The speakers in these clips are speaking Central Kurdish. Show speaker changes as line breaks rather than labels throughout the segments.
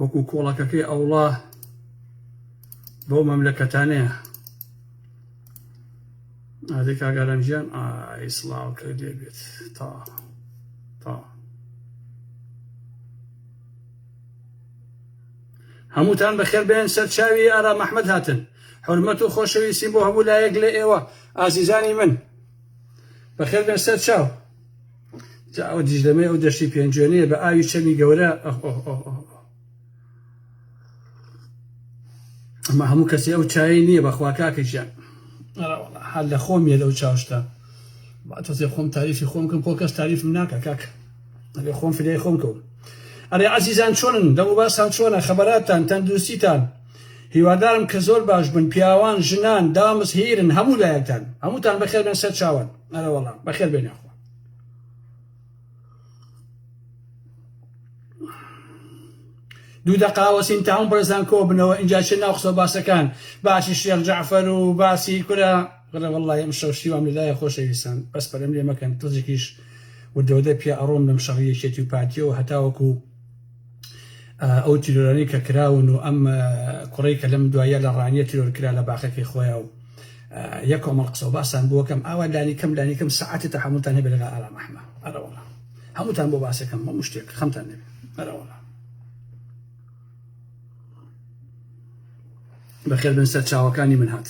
وەکو کۆڵەکەکەی ئەوڵا بەو مەملەکەتانەیە ئادێ کاگارم ژیان ئایسڵاو کە لێ بێت تا تا هەمووتان بەخێر بێن سەر چاوی ئارا مححمد هاتن حرمەت و خۆشەویستیم بۆ هەموو لایەک لە ئێوە ئازیزانی من بەخێر بێن سەر چاو جا ئەو دیژلەمەی ئەو دەشتی پێنجوێنەیە بە ئاوی چەمی گەورە ئەمە هەموو کەسی ئەو چایی نییە بەخوا کاکەژیان حال لە خۆم یە لەو چاوشتا تۆزێ خۆم تاریفی خۆم کەم خۆ کەس تاریف ناکە کاک ئەێ خۆم فریای خۆم کەوم ئەرێ عزیزان چۆنن لە وباسان چۆنە خەبەراتان تەندروستیتان هیوادارم کە زۆر باش بن پیاوان ژنان دامز هیرن هەموو لایەکتان هەمووتان بەخێربێن سەر چاوان ئەرەوەڵام بەخێر بێنە خۆ دوو دەقاوە سین تاون بڕێزان کۆ بنەوە اینجا چێ ناو قسە باسەکان باسی شێخ جعفەر و باسی کورە بڵێ وڵی ئەم شەوشتی وام لەلایە خۆشەویستان بەس پەرم لێ مەکەن تزیکیش و دەودە پیا ئەڕۆم لەم شەڕیەکێتی و پارتیەوە هەتاوەکو ئەو تیرۆرانەی کە کراون و ئەم کوڕی کە لەم دوایە لە ڕانیە تیرۆر کرا لە باخەکەی خۆیان و یە کۆمەڵ قسە و باسان بووەکەم ئاوا لانی کەم لانی کەم سەعاتی تا هەمووتان هەبێت لەگەڵ ئارام ئەحمە ئەرەوەڵا هەمووتان بۆ باسەکەم هەموو شتێک خەمتان نەبێت ئەرەوەڵا بەخێر بن سەر چاوەکانی من هات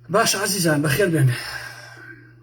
باش عزیزان بەخێر بێن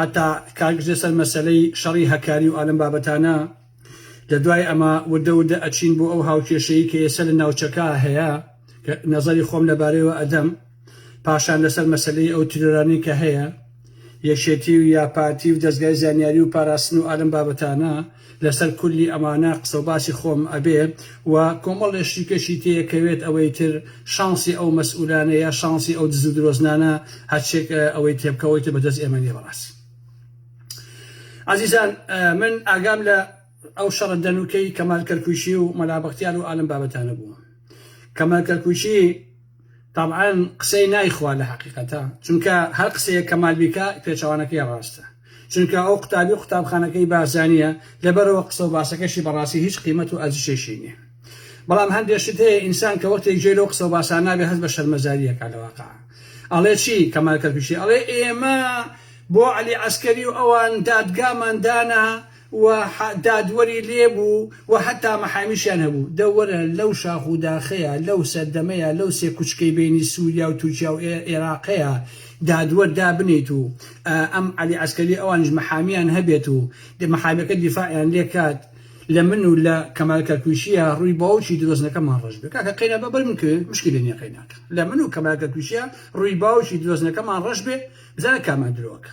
هەتا کار گرتە سەر مەسەلەی شەڕی هەکاری و ئالەم بابەتانە لە دوای ئەمە وردە وردە ئەچین بۆ ئەو هاوکێشەیی کە ئێسە لە ناوچەکە هەیە کە نەزەری خۆم لە بارەیەوە ئەدەم پاشان لە سەر مەسەلەی ئەو تیرۆرانەی کە هەیە یەکێتی و یا پارتی و دەزگای زانیاری و پاراستن و ئالەم بابەتانە لەسەر کولی ئەمانە قسەو باسی خۆم ئەبێ و کۆمەڵێ شتیکەشی تێ ئەکەوێت ئەوەی تر شانسی ئەو مەسئولانە یا شانسی ئەو دزو درۆزنانە هەرچێک ئەوەی تێ بکە ئەوەی تر بە دەست ئێمە نیە بەڕاستی ئازیزان من ئاگام لە ئەو شەڕە دەنوکەی کەمال کەرکوکی و مەلا بەختیار و ئالم بابەتانە بوو کەمال کەرکوکی تابعەن قسەی نایخوا لە هەقیقەتە چونکە هەر قسەیەک کەمال بیکا پێچەوانەکەی ڕاستە چونکە ئەو قوتابی و قوتابخانەکەی بارزانیە لەبەرەوە قسە و باسەکەشی بەڕاستی هیچ قیمەت و ئەرزشێکی نیە بەڵام هەندێ شت هەیە ئینسان کە وەختێک جێ لەو قسە و باسان نابێ هەست بە شەرمەزاریەکە لە واقع ئەڵێ چی کەمال کەرکوکی ئەڵێ ئێمە بۆ عەلی عەسکەری و ئەوان دادگامان دانا و دادوەری لێ بوو و هەتا مەحامیشیان هەبوو. دە وەرە لەو شاخ و داخەیە، لەو سەردەمەیە، لەو سێ کوچکەی بەینی سووریا و تورکیا و ئێراقەیە دادوەر دابنێیت و ئەم عەلی عەسکەری ئەوانیش مەحامیان هەبێت و مەحامیەکە دیفاعیان لێ کات لە من و لە کەمال کەرکویشیە ڕووی باوکی درۆزنەکەمان ڕەش بێ کاکە قەینا با بەر من کوێ مشکیلە نیە قەیناکە لە من و کەمال کەرکویشیە ڕووی باوکی درۆزنەکەمان ڕەش بێ بزانە کامان درۆکە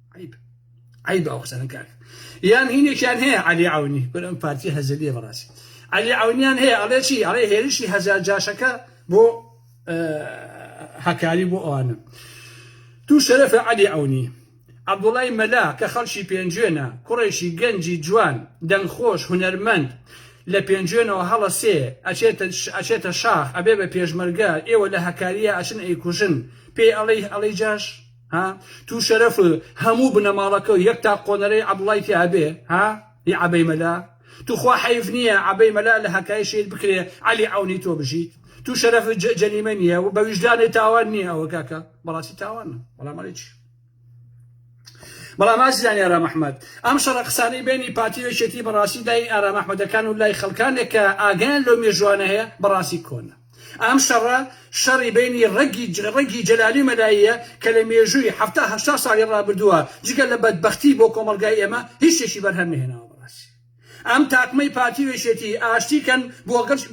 عیب عیب ئەو قسەنە کاک یان هینێکیان هەیە علی عونی بەر ئەم پارتی هەزلیە بەڕاستی علی عونیان هەیە ئەڵێ چی ئەڵێ هێرشی هەزار جاشەکە بۆ هەکاری بۆ ئەوانە تو شەرەفە علی عونی عبدوڵای مەلا کە خەڵکی پێنجوێنە کوڕێکی گەنجی جوان دەنگخۆش هونەرمەند لە پێنجوێنەوە هەڵە سێ ئەچێتە شاخ ئەبێ بە پێشمەرگە ئێوە لە هەکاریە ئەچن ئەیکوژن پێی ئەڵی ئەڵی جاش ها تو شەرەف هەموو بنەماڵەکە و یەک تا قۆنەرەی عەبڵای تیا بێ ها ی عەبەی مەلا تو خوا حەیف نییە عەبەی مەلا لە هەکای شەید بکرێ عەلی عەونی تۆ بژیت تو شەرەف جەلیمە نییە و بە ویژدانێ تاوان نییە ئەوە کاکە بەڕاستی تاوانە بەڵام ئەڵێ چی بەڵام ئازیزانی ئارام ئەحمەد ئەم شەڕە قسانەی بینی پارتی وێشێتی بەڕاستی لای ئارام ئەحمەدەکان و لای خەڵکانێک کە ئاگیان لەو مێژوانە هەیە بەڕاستی کۆنە ئەم شەڕە شەڕی بەینی ڕەگی جەلالی و مەلاییە کە لە مێژووی حەفتا هەشتا ساڵی ڕابردووە جگە لە بەدبەختی بۆ کۆمەڵگای ئێمە هیچ شتێکی بەرهەم نەهێناوە بەڕاستی ئەم تاقمەی پارتی و یەکێتی ئاشتی کەن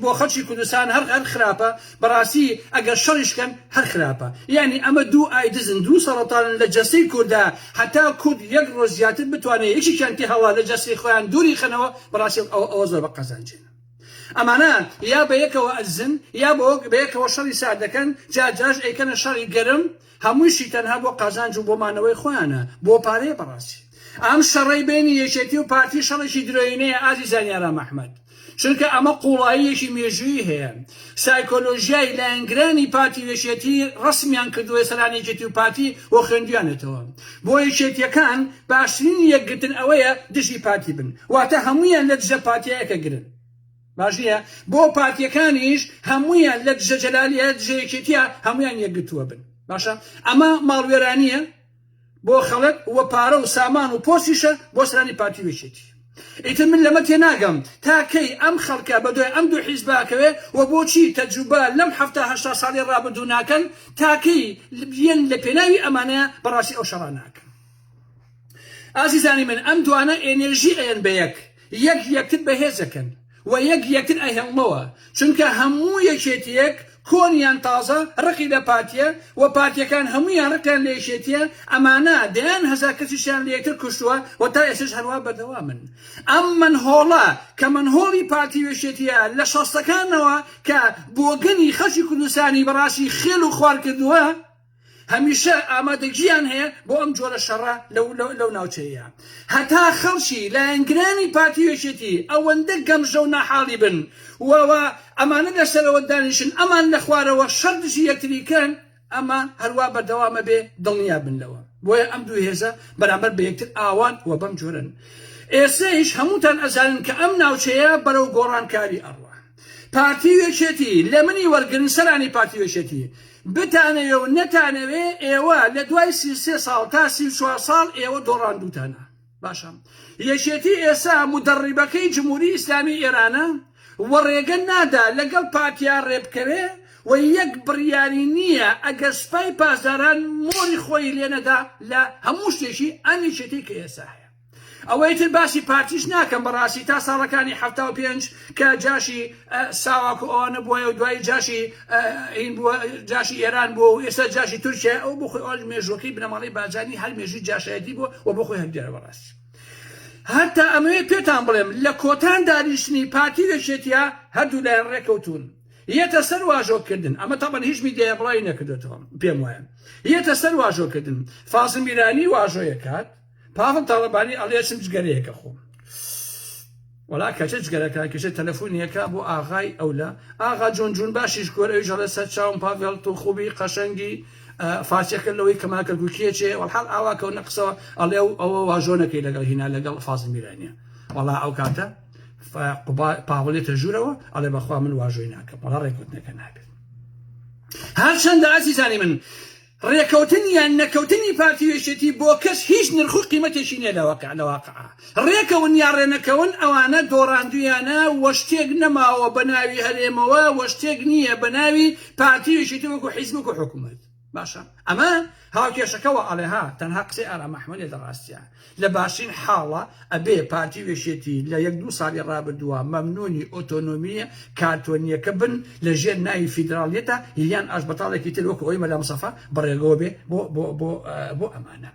بۆ خەڵکی کوردستان هەر خراپە بەڕاستی ئەگەر شەڕیش کەن هەر خراپە یانی ئەمە دوو ئای دزن دوو سەڕەتانن لە جەستەی کوردا هەتا کورد یەک ڕۆژ زیاتر بتوانێ یەکێکیان تێهەڵا لە جەستەی خۆیان دووری خەنەوە بەڕاستی ئەوە زۆر بە قەزانجێنە. ئەمانە یا بەیەکەوە ئەدزن یا بەیەکەوە شەڕی سارد دەکەن، جار جارش ئەیکەنە شەڕی گەرم، هەموویشی تەنها بۆ قازانج و بۆ مانەوەی خۆیانە، بۆ پارەیە بەڕاستی ئەم شەڕەی بەینی یەکێتی و پارتی شەڕێکی درۆیینەیە ئازیزان یارام ئەحمەد، چونکە ئەمە قوڵایی یەکی مێژوویی هەیە، سایکۆلۆژیای لایەنگرانی پارتی و یەکێتی ڕەسمیان کردووە سەران یەکێتی و پارتی بۆ خوێندویانێتەوە بۆ یەکێتیەکان باشترین یەکگرتن ئەوەیە دژی پارتی بن واتە هەموویان لە دژە پارتیە یەکە گرن باش نییە بۆ پارتیەکانیش هەموویان لە دژە جەلالیە دژە یەکێتیە هەموویان یەکگرتووە بن باشە ئەمە ماڵوێرانیە بۆ خەڵک وە پارە و سامان و پۆستیشە بۆ سەرانی پارتی و یەکێتی ئیتر من لەمە تێناگەم تا کەی ئەم خەڵکە بەدوای ئەم دوو حیزبە ئەکەوێ وە بۆچی تەجروبە لەم حەفتا هەشتا ساڵی ڕابردوو ناکەن تا کەی یەن لەپێناوی ئەمانە بەڕاستی ئەو شەڕانە ئەکەن ئازیزانی من ئەم دوانە ئێنێرژی ئەیەن بەیەک یەک یەکتر بەهێزەکەن و یەک یەکتر ئەهێڵنەوە چونکە هەموو یەکێتیەک کۆن یان تازە ڕقی لە پارتیە و پارتیەکان هەموویان ڕقیان لە یەکێتیە ئەمانە دەیان هەزار کەسیشیان لە یەکتر کوشتوە و تا ئێستەش هەروا بەردەوامن ئەم مەنهۆڵە کە مەنهۆڵی پارتی و یەکێتیە لە شەستەکانەوە کە بۆگەنی خەڵکی کوردستانی بەڕاستی خێل و خوار کردوە هەمیشە ئامادەگییان هەیە بۆ ئەم جۆرە شەڕە لەو ناوچەیە. هەتا خەڵکی لایەنگرانی پارتی و یەکێتی ئەوەندە گەمژە و ناحاڵی بن و ئەمانە لە سەرەوە دانیشن ئەمان لە خوارەوە شەڕ دژی یەکتری بکەن، ئەمە هەروا بەردەوام ئەبێ دڵنیا بن لەوە. بۆیە ئەم دوو هێزە بەرامبەر بە یەکتر ئاوان و بەم جۆرەن. ئێستەیش هەمووتان ئەزانن کە ئەم ناوچەیە بەرەو گۆڕانکاری ئەڕوا. پارتی و یەکێتی لە منی وەرگرن سەرانی پارتی و یەکێتی بتانەوێ و نەتانەوێ ئێوە لە دوای سی و سێ ساڵ تا سی و چوار ساڵ ئێوە دۆڕاندووتانە باشە یەکێتی ئێسا مدەڕیبەکەی جمهوری ئیسلامی ئێرانە و ڕێگە نادا لەگەڵ پارتیا ڕێبکەوێ و یەک بڕیاری نییە ئەگەر سپای پاسداران مۆری خۆی لێنەدا لە هەموو شتێکی ئەم یەکێتی کە ئێسا هەیە ئەوەی تر باسی پارتیش ناکەم بەڕاستی تا ساڵەکانی حەفتا و پێنج کە جاشی ساواک و ئەوانە بووە و دوایی جاشی ئین بووە جاشی ئێران بووە و ئێستا جاشی تورکیا ئەو بۆ خۆی ئەوش مێژووەکەی بنەماڵەی بارزانی هەر مێژووی جاشایەتی بووە و بۆ خۆی هەندێرە بەڕاستی هەتا ئەمەوێ پێتان بڵێم لە کۆتان دانیشتنی پارتی و یەکێتیە هەردوو لایەن ڕێکەوتون یەتە سەر واژۆکردن ئەمە تاڵن هیچ میدیای بڵاوی نەکردێتەوە پێم وایە یەتە سەر واژۆکردن فازم میرانی واژۆیەکات پاڤڵ تاڵەبانی ئەڵێ چم جگەرەیەکە خۆم وەڵا کەچە جگەرەکە کەچە تەلەفۆنیەکە بۆ ئاغای ئەولە ئاغا جۆن جون باشیش کۆر ئەوی ژەڵە سەر چاوم پاڤێڵ تۆ خوبی قەشەنگی فارسیەکە لەوەی کەما کەرکوکیە چێ وەڵحاڵ ئاوا کەو نەقسەوە ئەڵێ و ئەوە واژۆنەکەی لەگەڵ هینا لەگەڵ فازی میرانە وەڵا ئەو کاتە پاوڵێتە ژوورەوە ئەڵێ بەخوا من واژۆی ناکەم وەڵا ڕێکوتنەکە نابێت هەرچەندە ئازیزانی من ڕێکەوتن یان نەکەوتنی پارتی و یەکێتی بۆ کەس هیچ نرخ و قیمەتێکی نیە لە واقع لە واقعا ڕێکەون یا ڕێنەکەون ئەوانە دۆڕاندویانە وە شتێک نەماوە بە ناوی هەرێمەوە وە شتێک نیە بە ناوی پارتی و یەکێتی وەکو حیزب وەکو حکومەت باشە ئەمە هاوکێشەکە وە ئەڵێ ها تەنها قسەی ئارام ئەحمەدێ لە ڕاستیا. لە باشترین حاڵا ئەبێ پارتی و یەکێتی لە یەک دوو ساڵی ڕابردووە مەمنوونی ئۆتۆنۆمییە کانتۆنییەکە بن لە ژێر ناوی فیدراڵیەتە یان ئاشبەتاڵێکی تر وەکو ئەوەی مەلا مستەفا بەڕێگەوە بێ بۆ بۆ بۆ بۆ ئەمانە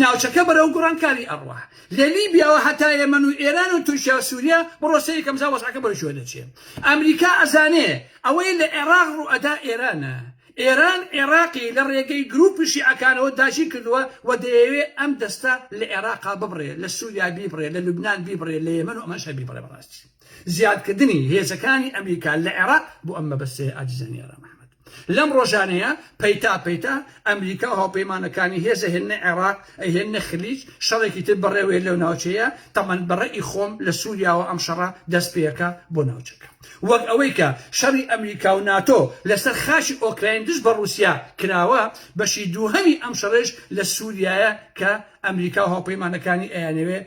ناوچەکە بەرەو گوڕانکاری ئەڕوا لە لیبیاوە هەتا یەمەن و ئێران و تورکیا و سووریا بڕۆ سەیری کە ئەمجا وەزعەکە بەرەو کوێ دەچێ ئەمریکا ئەزانێ ئەوەی لە عێڕاق ڕوو ئەدا ئێرانە ئێران عێراقی لە ڕێگەی گرووپی شیعەکانەوە داگیر کردووە و دەیەوێت ئەم دەستە لە عێراقا ببڕێت، لە سووریا بیبڕێت، لە لوبنان بیبڕێت، لە یەمەن و ئەمانش هەر بیبڕێت بە ڕاستی زیادکردنی هێزەکانی ئەمریکا لە عێراق بۆ ئەم مەبەستەیە ئازیزانی ئارام ئەحمەد لەم ڕۆژانەیە پەیتا پەیتا ئەمریکا و هاوپەیمانەکانی هێز ئەهێننە عێراق ئەهێننە خلیج شەڕێکی تر بەڕێوەیە لەو ناوچەیە تەمەن بە ڕەئی خۆم لە سووریاوە ئەم شەڕە دەست پێکا بۆ ناوچەکە. وەک ئەوەی کە شەڕی ئەمریکا و ناتۆ لەسەر خاکی ئۆکراین دژ بە ڕووسیا کراوە، بەشی دووهەمی ئەم شەڕەیش لە سووریایە کە ئەمریکا و هاوپەیمانەکانی ئەیانەوێ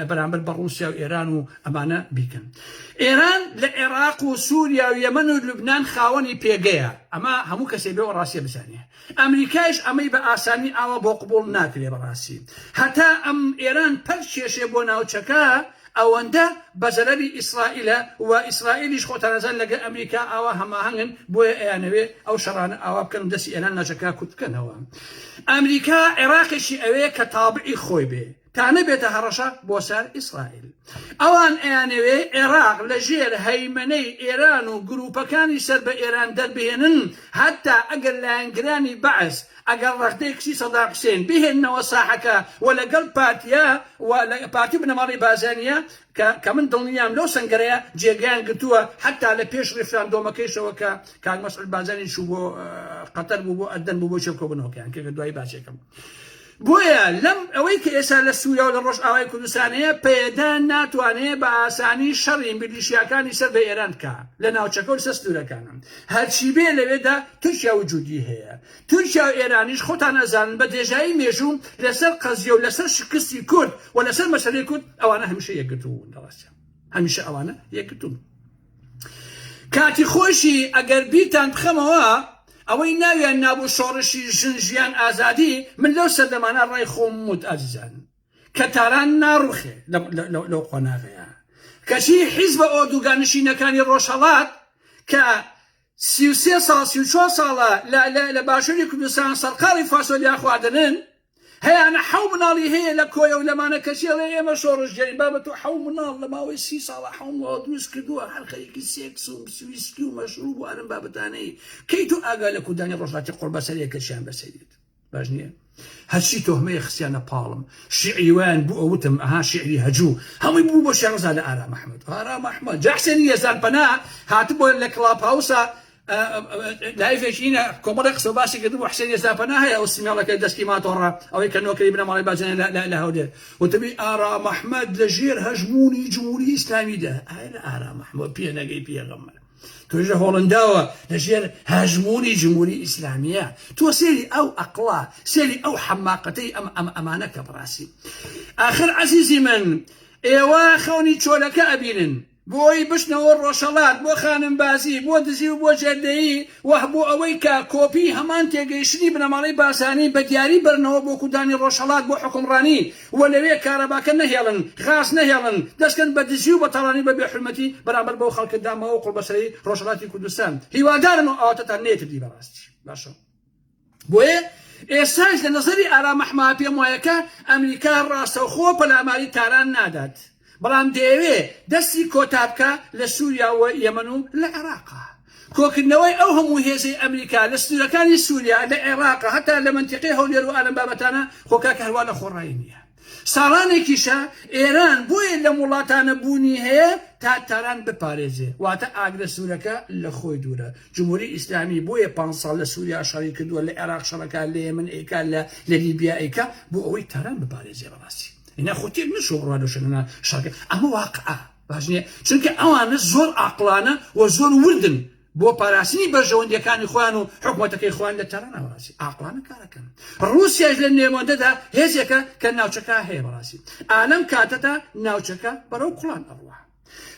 بەرامبەر بە ڕووسیا و ئێران و ئەمانە بیکەن. ئێران لە عێراق و سووریا و یەمەن و لوبنان خاوەنی پێگەیە، ئەمە هەموو کەسێ بێ وەڕاستیە بزانێ. ئەمریکایش ئەمەی بە ئاسانی ئاوا بۆ قبوڵ ناکرێ بەڕاستی هەتا ئەم ئێران پەل کێشێ بۆ ناوچەکە ئەوەندە بە زەرەری ئیسڕائیلە و ئیسڕائیلیش خۆتان ئەزان لەگە ئەمریکا ئاوا هەماهەنگن بۆیە ئەیانەوێ ئەو شەڕانە ئاوا بکەن و دەسی ئێران ناچەکە کورت بکەنەوە ئەمریکا عێڕاقێکی ئەوێ کە تابعی خۆی بێ تا نەبێتە هەڕەشە بۆ سەر ئیسرائیل. ئەوان ئەیانەوێ عێراق لە ژێر هەیمەنەی ئێران و گرووپەکانی سەر بە ئێران دەربهێنن، هەتا ئەگەر لایەنگرانی بەعس، ئەگەر ڕەغدەی کچی سەدام حسێن بهێننەوە ساحەکە و لەگەڵ پارتییە و پارتی و بنەماڵەی بازانییە کە کە من دڵنیام لەو سەنگەرەیە جێگەیان گرتووە هەتا لە پێش ڕیفراندۆمەکەیشەوە کە کاک مەسعود بازانی چوو بۆ قەتەر بوو بۆ ئەردەن بوو بۆ چێڵکۆبوونەوەکەیان کە کە دوایی باسێکەم. بۆیە لەم ئەوەی کە ئێستا لە سووریا و لە ڕۆژئاوای کوردستان هەیە، پەیەدە ناتوانێ بە ئاسانی شەڕی میلیشیاکانی سەر بە ئێران بکا لە ناوچەکە و لەسەر سنوورەکانە. هەرچی بێ لەوێدا تورکیا وجوودی هەیە. تورکیا و ئێرانیش خۆتان ئەزانن بە درێژایی مێژوو لەسەر قەزیە و لەسەر شکستی کورد و لەسەر مەسەلەی کورد ئەوانە هەمیشە یەکگرتوو بوون. دەڕاستە هەمیشە ئەوانە یەکگرتوون. کاتی خۆشی ئەگەر بیرتان بخەمەوە ئەوەی ناویان نابوو شۆڕشی ژن ژیان ئازادی من لەو سەردەمانە ڕای خۆم وت ئازیزان کە تاران ناڕوخێ لەو قۆناغەیە کەچی حیزبە ئۆردوگا نشینەکانی ڕۆژهەڵات کە سی و سێ ساڵ سی و چوار ساڵە لە لە لە باشوری کوردستان سەرقاڵی فاسۆلیا خواردنن هەیانە حەو مناڵی هەیە لە کۆیە و لەمانە کەچی ئەڵێ ئێمە شۆڕشگێرین بابە تۆ حەو مناڵ لە ماوەی سی ساڵە حەو مناڵ دروست کردووە هەر خەریکی سێکس و ویسکی و مەشروب و ئەرم بابەتانەی کەی تۆ ئاگا لە کوردانی ڕۆژهەڵاتی قوڕبەسەرێک کەچیان بەسەریت باش نییە هەرچی تۆهمەیە خسیانە پاڵم شیعری وایان بوو ئەوتم ئەها شیعری هەجوو هەمووی بوو بۆ شێخزا لە ئارام ئەحمەد ئارام ئەحمەد جا حسێنی یەزدان پەنا هاتبووە لە کڵاپ هاوسا لایڤێکینە کۆمەڵی قسە باسی کرد بۆ حسێن یەزدان پەنا هەیە ئەو سمێڵەکە دەستی ماتۆڕە ئەوەی کە نۆکەی بنەماڵی باجێن لە هەولێر وتبی ئارام ئەحمەد لە ژێر هەژموونی جمهوری ئیسلامیدا ئارام ئەحمەد پێنەگەی پێغەمبەر توێژە هۆڵنداوە لە ژێر هەژموونی جموری ئیسلامیە تۆ سێری ئەو ئەقڵا سێری ئەو حەماقەتەی ئەم ئەم ئەمانە کە بڕاستی ئاخر عزیزی من ئێوە خەونی چۆلەکە ئەبینن بۆی بچنەوە ڕۆژەڵات بۆ خانم بازی بۆ دزی و بۆ جێدەیی وه بۆ ئەوەی کە کۆپی هەمان تێگەیشتنی بنەماڵەی بازانی بە دیاری بەرنەوە بۆ کوردانی ڕۆژەڵات بۆ حکومڕانی و لەوێ کارەباکە نەهێڵن، غاز نەهێڵن، دەستکەن بە دزی و بە تاڵانی و بە بێ حورمەتی بەرامبەر بەو خەڵکە داماو و قوڵبەسەرەی ڕۆژهەڵاتی کوردستان. هیوادارم ئەو ئاواتەتان نەیەتردی بەڕاستی باشە. بۆیە ئێستاش لە نەزەری ئارام ئەحمە پێم وایە کە ئەمریکا ڕاستەوخۆ پەلاماری تاران نادات. بەڵام دەیەوێ دەستی کۆتا بکا لە سوریا و یەمەن و لە عێراق. کۆکردنەوەی ئەو هەموو هێزەی ئەمریکا لە سنوورەکانی سوریا، لە عێراق، هەتا لە مەنتیقەی هەولێر و ئالەم بابەتانە، خۆ کاکە هەروا لە خۆڕایی نییە. ساڵانێکیشە ئێران بۆیە لەم وڵاتانە بوونی هەیە تا تاران بپارێزێ. واتە ئاگرە سوورەکە لە خۆی دوورە. جمهوری ئیسلامی بۆیە پانج ساڵ لە سوریا شەڕی کردووە، لە عێراق شەڕ ئەکا، لە یەمەن ئەیکا، لە لە لیبیا ئەیکا بۆ ئەوەی تاران بپارێزێ. بەڕاستی. ئینا خۆ تێک نەچووە بڕوا لەو شوێنە شەڕەکە ئەمە واقعە باش نییە چونکە ئەوانە زۆر ئاقڵانە و زۆر وردن بۆ پاراستنی بەرژەوەندیەکانی خۆیان و حکوومەتەکەی خۆیان لە تاران ناوەڕاستی ئاقلانە کارەکەن رووسیاش لە نێوەندەدا هێزێکە کە ناوچەکە هەیە بەڕاستی ئالەم کاتەدا ناوچەکە بەرەو کوڵان ئەڕوە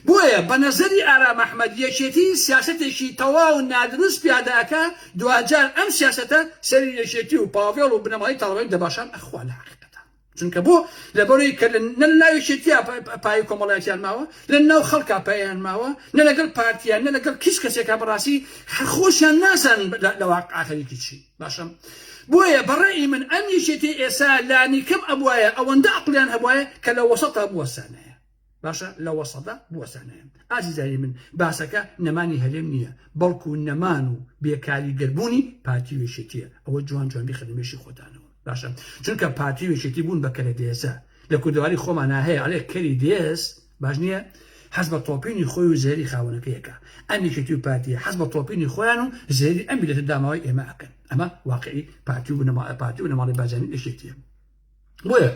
بۆیە بە نەزەری ئارام ئەحمەد یەکێتی سیاستێکی تەواو نادروست پیادەکە دواجار ئەم سیاستە سەری یەکێتی و پاڤێڵ و بنەماڵی تاڵبانی دەباشان ئەخوا لە حقیقەتە چونکە بۆ لەبەرەوەی کە نە ناو یەکێتیا پای کۆمەڵایەتیان ماوە لە ناو خەڵکا پایان ماوە نە لەگەڵ پارتیان نە لەگەڵ کیس کەسێکا بەڕاستی خۆشیان نازانن لە واقع خەریکی چی باشم بۆیە بەڕێی من ئەم یەکێتی ئێسا لانیکەم ئەبواە ئەوەندە عقلیان هەبواە کە لە وەسەتا بوەسانەیە باشە لە وەسەدە بوەستانەێم ئازیزانی من باسەکە نەمانی هەرێم نییە بەڵکو نەمان و بێکاری گەربوونی پارتی وێشێتیە ئەوە جوان جوان بخەنمێشی خۆتانەوە باشە چونکە پارتی وێشێتی بوون بە کەرە دێزە لە کوردواری خۆمان ناهەیە ئەلێ کەری دێز باش نییە حەز بە تۆپینی خۆی و زێری خاونەکەیەکە ئەمیشێتی و پارتی حەز بە تۆپینی خۆیان و زێری ئەمی لە داماوی ئێمە ئەکەن ئەمە واقعی پارتی و نەما پارتی و نەماڵی بازانی ئێشێتیە بۆیە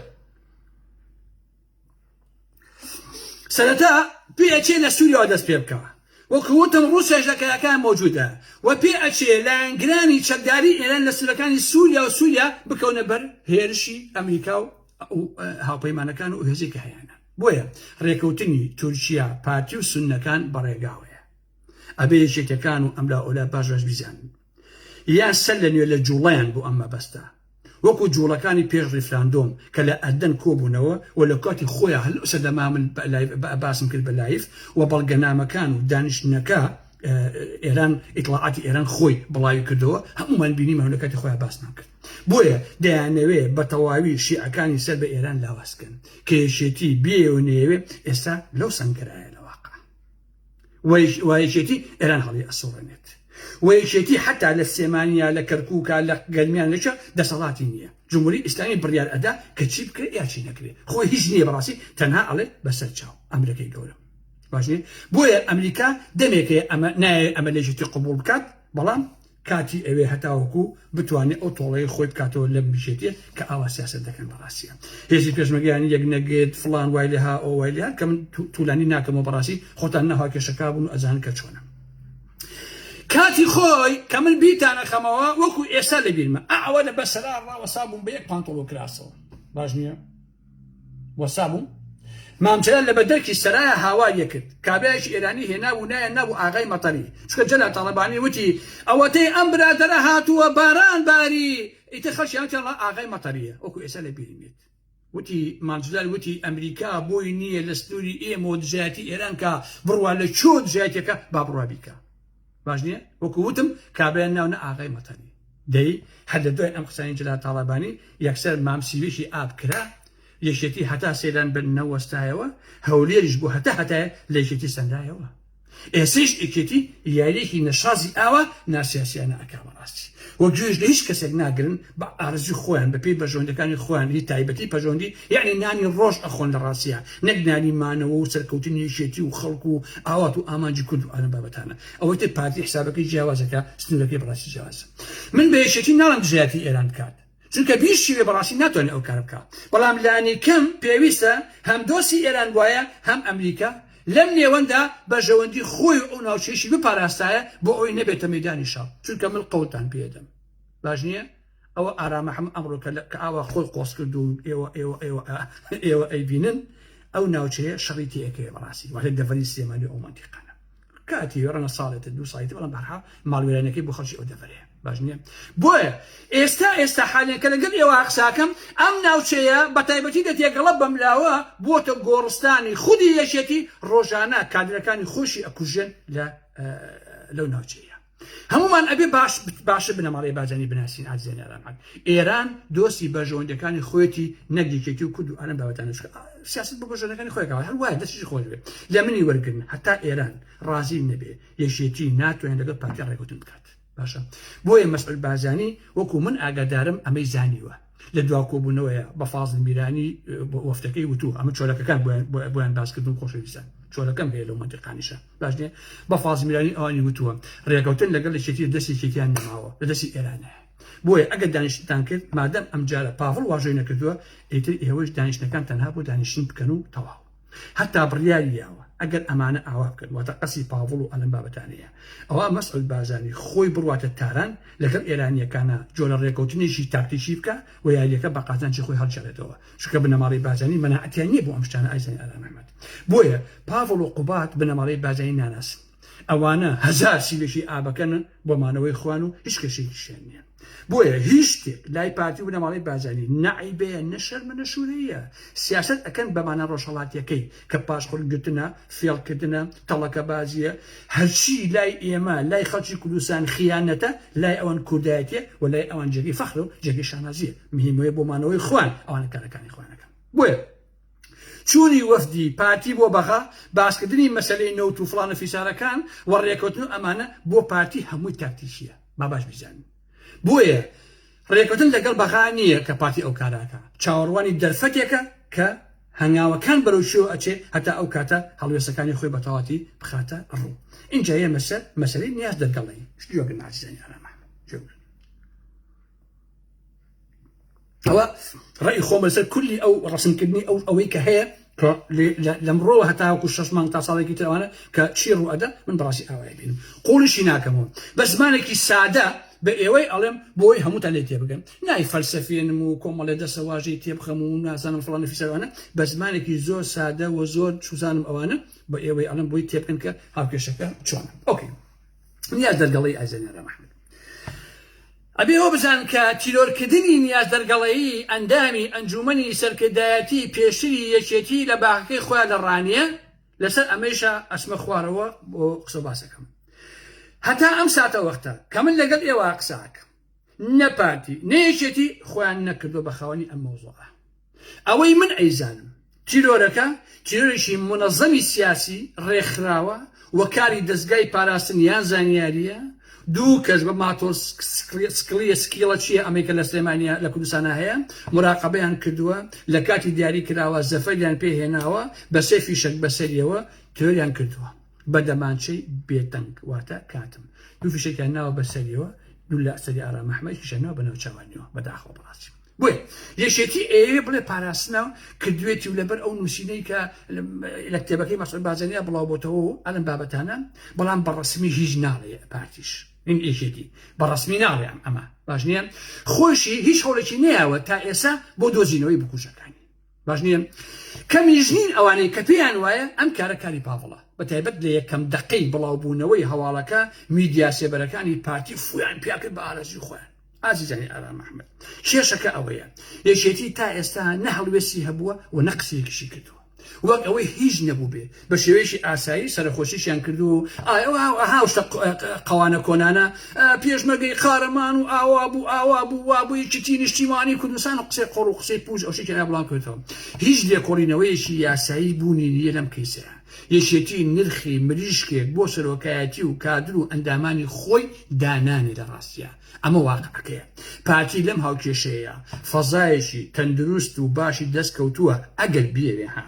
سەرەتا پێ ئەچێ لە سووریاوە دەست پێ بکەوە وەکو وتم ڕووسیاش لە کایەکان مۆجودە و پێ ئەچێ لایەنگرانی چەکداری ئێران لە سنوورەکانی سووریا و سووریا بکەونە بەر هێرشی ئەمریکا و هاوپەیمانەکان و هێزی کە هەیانە بۆیە ڕێکەوتنی تورکیا پارتی و سنەکان بەڕێگاوەیە ئەبێ یەکێتەکان و ئەملا ئۆلا باش باش بیزانن یا سەر لە نوێ لە جووڵەیان بۆ ئەم مەبەستە وەکو جووڵەکانی پێش ڕیفراندۆم کە لە ئەردەن کۆبوونەوە و لە کاتی خۆیا هەر لەو سەردەما من باسم کرد بە لایڤ و بەڵگەنامەکان و دانیشتنەکە ئێران ئیتڵاعاتی ئێران خۆی بڵاوی کردەوە هەموومان بینیمان لە کاتی خۆیان باسمان کرد بۆیە دەیانەوێ بە تەواوی شیعەکانی سەر بە ئێران لاوازکەن کە یەکێتی بێ و نەیەوێ ئێستا لەو سەنگەرایە لە واقع وەیەکێتی ئێران هەڵی ئەسەڵێنێت وەیەکێتی حتا لە سێمانیا لە کەرکووکە لە گەرمیان لەچە دەسەڵاتی نییە جمهوری ئیسلامی بڕیار ئەدا کە چی بکرێت یاچی نەکرێت خۆ هیچ نییە بەڕاستی تەنها ئەڵێ بەسەر چاو ئەمرەکەی گەورە باشێ بۆیە ئەمریکا دەمێکەیە ئەمە نایە ئەمە لەژێتی قوبول بکات بەڵام کاتی ئەوێ هەتاوەکو بتوانێ ئەو تۆڵەی خۆی بکاتەوە لەم میشێتیە کە ئاوا سیاسەت دەکەن بەڕاستیە هێزی پێشمەرگەیانی یەک نەگێت فڵان وای لێ ها ئەو وای لێ هات کە من تولانی ناکەمەوە بەڕاستی خۆتان ناهوا کێشەکار بوون و ئەزانن کە چۆنە کاتی خۆی کە من بیتان ئەخەمەوە وەکو ئێستا لە بیرمە ئەوە لە بەسەرا ڕاوەسا بووم بە یەک پانتۆڵ و کراسەوە باش نییە وەستا بوو مام جەلال لە بەدەرکی سەرایا هاوار یەکرد کابرایەکی ئێرانی هێنا و نایان نابوو ئاغای مەتەری چونکە جەلال تاڵەبانی وتی ئەوەتەی ئەم برادەرە هاتووە باران باری ئیتر خەڵکی هاتیان ڕا ئاغای مەتەریە وەکو ئێستا لە بیرم یەت وتی مام جەلال وتی ئەمریکا بۆی نییە لە سنووری ئێمەوە دژایەتی ئێران کا بڕوا لە چۆ دژایەتیەکە با بڕوا بیکا. باش نییە وەکو وتم کابرای ناو نە ئاغای مەتەنی دەی هەر لە دوای ئەم قسانی جلا تاڵەبانی یەکسەر مام سیویشی ئاب کرا یەشێتی هەتا سەیران بن نەوەستایەوە هەولێریش بۆ هەتا هەتایە لە یەکێتی سەندایەوە ئێسش ئیکێتی یاریێکی نەشازی ئاوا ناسیاسیانە ئەکا بەڕاستی و گوێش لە هیچ کەسێک ناگرن بە ئارەزوی خۆیان بە پێی بەرژەوەندەکانی خۆیان ی تایبەتی پەژەوەندی یەعنی نانی ڕۆژ ئەخۆن لە ڕاستیا نەک نانی مانەوە و سەرکەوتنی یەکێتی و خەڵک و ئاوات و ئامانجی کورد و ئەم بابەتانە ئەوەی تر پارتی حسابەکەی جیاوازە کە سنورەکەی بەڕاستی جیاوازە من بە یەکێتی ناڵێم دژایەتی ئێران بکات چونکە بیر شیوێ بەڕاستی ناتوانێ ئەو کارە بکا بەڵام لانیکەم پێویستە هەم دۆسی ئێران بوایە هەم ئەمریکا لەم نێوەندا بەرژەوەندی خۆی و ئەو ناوچەیشی بپاراستایە بۆ ئەوەی نەبێتە مەیدانی شەڕ چونکە من قەوتان پێدەم باش نییە ئەوە ئارامە حەم ئەمڕۆکە لە کە ئاوا خۆی قۆس کرد و ئێوە ئێوە ئێوە ئێوە ئەیبینن ئەو ناوچەیە شەڕی تێەکەی بەڕاستی واتە دەڤەری سلێمانی ئەو منتیقانە کاتی وێڕەنە ساڵێتە دوو سایت بەڵام بەرحاڵ ماڵوێرانەکەی بۆ خەڵکی ئەو دەڤەرەیە باش نییە بۆیە ئێستا ئێستا حالێن کە لەگەڵ ئێوە قساکەم ئەم ناوچەیە بە تایبەتی دەتێگەڵە بەملاوە بووەتە گۆڕستانی خودی یەکێتی ڕۆژانە کادرەکانی خۆشی ئەکوژێن لە لەو ناوچەیە هەمومان ئەبێ باش باشە بنەماڵی بازانی بناسین ئازێن ئەرامەت ئێران دۆستی بەژەوەندەکانی خۆێتی نەگیکێتی و کورد و ئەرم بابەتان سیاست بە بەژەنەکانی خۆێکەوە هەر وایە دەستی خۆش بێت لە منی وەرگن هەتا ئێران ڕازی نەبێ یەشێتی ناتوانێت لەگەڵ پارتی ڕێکوتن بکات باشە بۆیە مەسعود بارزانی وەکو من ئاگادارم ئەمەی زانیوە لە دوا کۆبوونەوەیە بە فازل میرانی وەفتەکەی وتو ئەمە چۆلەکەکان بۆیان باسکردن خۆشەویستە چۆلەکەم هەیە لەو منتیقانیشە باشێ بە فازل میرانی ئەوانی وتووە ڕێکەوتن لەگەڵ لە چێتی دەستی چێتیان نەماوە لە دەستی ئێرانە بۆیە ئەگەر دانیشتتان کرد مادەم ئەمجارە پاڤڵ واژۆی نەکردووە ئیتر ئێوەش دانیشتەکان تەنها بۆ دانیشتن بکەن و تەواو هەتا بڕیاری یاوە ئەگەر ئەمانە ئاوا بکەن واتە قەسی پاڤڵ و ئەلەم بابەتانەیە ئەوا مەسعود بارزانی خۆی بڕواتە تاران لەگەڵ ئێرانیەکانا جۆرە ڕێکەوتنێکی تاکتیکی بکا و یاریەکە بە قازانجی خۆی هەڵگێڕێتەوە چونکە بنەماڵەی بارزانی مەناعەتیان نیە بۆ ئەم شتانە ئازیزانی ئارام ئەحمەد بۆیە پاڤڵ و قوباد بنەماڵەی بارزانی ناناسن ئەوانە هەزار سیلەشی ئابەکەنن بۆ مانەوەی خوان و هیچ کەشێکیشیان نیە بۆیە هیچ شتێک لای پارتی و بنەماڵەی بارزانی نە عەیبەیە نە شەرمە نە شورەییە سیاسەت ئەکەن بە مانا ڕۆژهەڵاتیەکەی کە پاشقول گرتنە فێڵ کردنە تەڵەکە بازیە هەرچی لای ئێمە لای خەڵکی کوردستان خیانەتە لای ئەوان کوردایەتیە و لای ئەوان جێگەی فەخرە و جێگەی شانازیە مهمەیە بۆ مانەوەی خوان ئەوانە کارەکانی خوانەکەن بۆیە چوونی وەفدی پارتی بۆ بەغا، باسکردنی مەسەلەی نەوت و فڵان و فیسارەکان و رێکەوتن و ئەمانە بۆ پارتی هەمووی تاکتیکیە با باش بیزانین بۆیە رێکەوتن لەگەڵ بەغا نییە کە پارتی ئەو کارە ئەکا چاوەڕوانی دەرفەتێکە کە هەنگاوەکان بەرەو کوێوە ئەچێ هەتا ئەو کاتە هەڵوێستەکانی خۆی بەتەواتی بخاتە ڕوو ئینجا یەمە سەر مەسەلەی نیاز دەرگەڵەیی گوێ بگرن ئازیزانی ئارام ئەحمەد گوێ بگرن ئەوە ڕێی خۆمە لەسەر کولی ئەو ڕسمکردنی ئەو ئەوەی کە هەیە کە لێ- لە- لەمڕۆوە هەتاوەکو شەش مانگ تا ساڵێکی تر ئەوانە کە چی ڕوئەدا من بەڕاستی ئاوای بینم قوڵیشی ناکەمەوە بە زمانێکی سادە بە ئێوەی ئەڵێم بۆ ئەوەی هەمووتان لێی تێبگەن نای فەلسەفێنم و کۆمەڵێ دەسەواژەی تێبخەم و نازانم فڵان و فیسار ئەوانە بە زمانێکی زۆر سادە و زۆر چوزانم ئەوانە بە ئێوەی ئەڵێم بۆی تێبگەن کە هاوکێشەکە چۆنە ئۆکەی نیاز دەرگەڵی ئازێنەرە محمد ئەبێ ئەوە بزان کە تیرۆرکردنی نیاز دەرگەڵەیی ئەندامی ئەنجومنی سەرکردایەتی پێشتری یەکێتی لە باخەکەی خۆیان لە ڕانیە لەسەر ئەمەیشە ئەسمە خوارەوە بۆ قسە باسەکەم هەتا ئەم ساتە وەختە کە من لەگەڵ ئێوە قساکەم نە پارتی نە یەکێتی خۆیان نەکردوە بە خاوەنی ئەم مەوزوعە ئەوەی من ئەیزانم تیرۆرەکە تیرۆرێکی منەزەمی سیاسی ڕێکخراوە و کاری دەزگای پاراستن یان زانیاریە دوو کەس بە ماتۆر سکڵیە سکیڵە چیە ئەمریکا لە سلێمانیا لە کوردستانە هەیە مراقبەیان کردووە لە کاتی دیاری کراوە زەفەریان پێهێناوە بە سێ فیشەک بەسەریەوە تیرۆریان کردووە بە دەمانچەی بێ دەنگ واتە کاتم دوو فیشەکیان ناوە بە سەریەوە دوو لە سەری ئارا مەحمە یەکیشیان ناوە بە ناو چاوانیەوە بەداخەوە بەڕاستی بۆیە یەکێتی ئەیەوێ بڵێ پاراستنە و کردوێتی و لەبەر ئەو نووسینەی کە لە کتێبەکەی مەسعود بازەنیا بڵاو بۆتەوە و ئەلم بابەتانە بەڵام بە ڕسمی هیچ ناڵێ پارتیش من یەکێتی بە ڕسمی ناڵێم ئەمە باش نییە خۆشی هیچ هەوڵێکی نیاوە تا ئێسا بۆ دۆزینەوەی بکوژەکانی باش نیە کەمیش نین ئەوانەی کە پێیان وایە ئەم کارە کاری پاڤڵە بە تایبەت لە یەکەم دەقەی بڵاوبوونەوەی هەواڵەکە میدیا سێبەرەکانی پارتی فویان پیا کرد بە ئارەزوی خۆیان ئازیزانی ئارام ئەحمەد کێشەکە ئەوەیە یەکێتی تا ئێستا نە هەڵوێستی هەبووە و نە قسەیەکیشی کردووە وەک ئەوەی هیچ نەبوو بێ بە شێوەیەکی ئاسایی سەرەخۆشیشیان کردووە و ئاو شتە قەوانە کۆنانە پێشمەرگەی قارەمان و ئاوا بوو ئاوا بوو وا بوو یەکێتی نیشتیمانی کوردستان و قسەی قۆڕ و قسەی پووچ ئەو شتێکیان بڵاو کردەوە هیچ لێکۆڵینەوەیەکی یاسایی بوونی نییە لەم کەیسەیە یەکێتی نرخی مریشکێک بۆ سەرۆکایەتی و کادر و ئەندامانی خۆی دانانێ لە ڕاستییا ئەمە واقعەکەیە پارتی لەم هاوکێشەیەیا فەزایەکی تەندروست و باشی دەست کەوتووە ئەگەر بیەوێ ها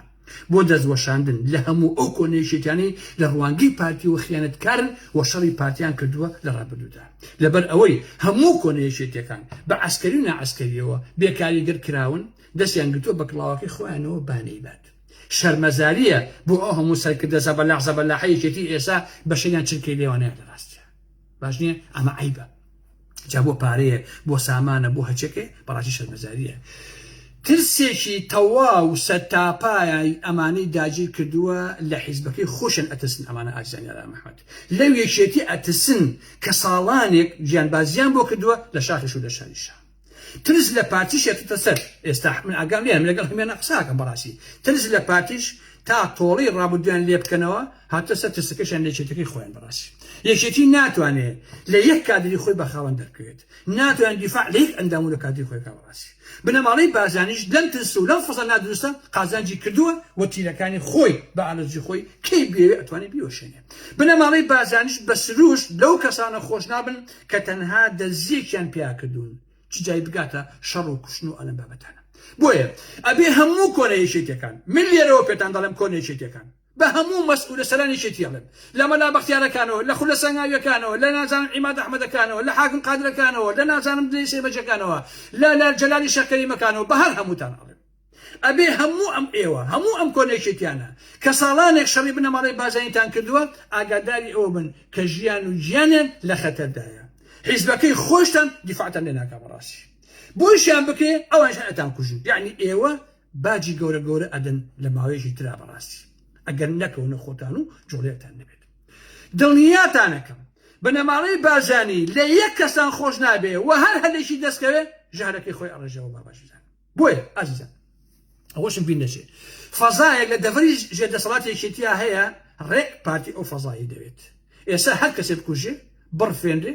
بۆ دەست وەشاندن لە هەموو ئەو کۆنە یەکێتیانەی لە ڕوانگەی پارتیەوە خیانەتکارن و شەڕی پارتیان کردووە لە ڕابردوودا لەبەر ئەوەی هەموو کۆنە یەکێتیەکان بە عەسکەری و ناعەسکەریەوە بێ کاریگەر کراون دەستیان گرتووە بە کڵاوەکەی خۆیانەوە بانەی بات شەرمەزاریە بۆ ئەو هەموو سەرکردە زەبەلاح زەبەلاحە یەکێتی ئێسا بەشەریان چرکەی لێوانەیان لە ڕاستیە باش نییە ئەمە عیبە جا بۆ پارەیە بۆ سامانە بۆ هەچەکەی بەڕاستی شەرمەزاریە ترسێکی تەواو سە تاپایای ئەمانەی داگیر کردووە لە حیزبەکەی خۆشن ئەترسن ئەمانە ئازانیارا محمد لەو یەکێتی ئەترسن کە ساڵانێک گیانبازیان بۆ کردووە لە شاخش و لە شاریشە ترس لە پارتی شێتتە سەر ئێستا من ئاگام لێیە من لەگەڵ هەمێنە قسە ئەکەم بەڕاستی ترس لە پارتیش تا تۆڵەی ڕابردوویان لێ بکەنەوە هاتە سەر ترسەکەشیان لە یەکێتەکەی خۆیان بەڕاستی یەکێتی ناتوانێت لە یەک کادری خۆی بە خاوەن دەرکەوێت ناتوان دیفاع لە یەک ئەندام و لە کادری خۆی بکا بەڕاستی بنەماڵەی بارزانیش لەم ترس و لەم فەزا نادروستە قازانجی کردووە و تیرەکانی خۆی بە ئالەزی خۆی کەی بوێ ئەتوانێت بیوەشێنێت بنەماڵەی بارزانیش بە سروشت لەو کەسانە خۆش نابن کە تەنها دەزیەکیان پیا کردوون چ جای بگاتە شەڕ و کوشتن و ئەلەم بابەتانە بۆیە ئەبێ هەموو کۆنە یەکێتیەکان من لێرەوە پێتان دەڵێم کۆنە یەکێتیەکان بە هەموو مەسئولە سەران یەکێتی ئەڵێم لە مەلا بەختیارەکانەوە لە خولە سەنگاویەکانەوە لە نازانم عیماد ئەحمەدەکانەوە لە حاکم قادرەکانەوە لە نازانم دلەی سێمەجەکانەوە لە لە جەلالی شێخ کەریمەکانەوە بە هەر هەمووتان ئەڵێم ئەبێ هەموو ئەم ئێوە، هەموو ئەم کۆنە یەکێتیانە، کە ساڵانێک شەڕی بنەماڵەی بارزانیتان کردووە، ئاگاداری ئەوە بن کە ژیان و گیانیان لە خەتەردایە. حیزبەکەی خۆیشتان دیفاعتان لێ ناکا بەڕاستی. بۆیشیان بکرێ ئەوانیش هەر ئەتان کوژن. یەعنی ئێوە باجی گەورە گەورە ئەدەن لە ماوەیەکی ترا بەڕاستی. ئەگەر نەکەونە خۆتان و جوڵەیەکتان نەبێت. دڵنیاتانەکەم بنەماڵەی بارزانی لە یەک کەستان خۆش نابێ و هەر هەلێکی دەست کەوێ ژەهرەکەی خۆی ئەڕێژێ وەڵا باش بزانن. بۆیە ئازیزان ئەوەشم بیر نەچێت فەزایەک لە دەڤری ژێر دەسەڵات یەکێتیا هەیە ڕێک پارتی ئەو فەزایی دەوێت ئێستا هەر کەسێ بکوژێ بڕفێنرێ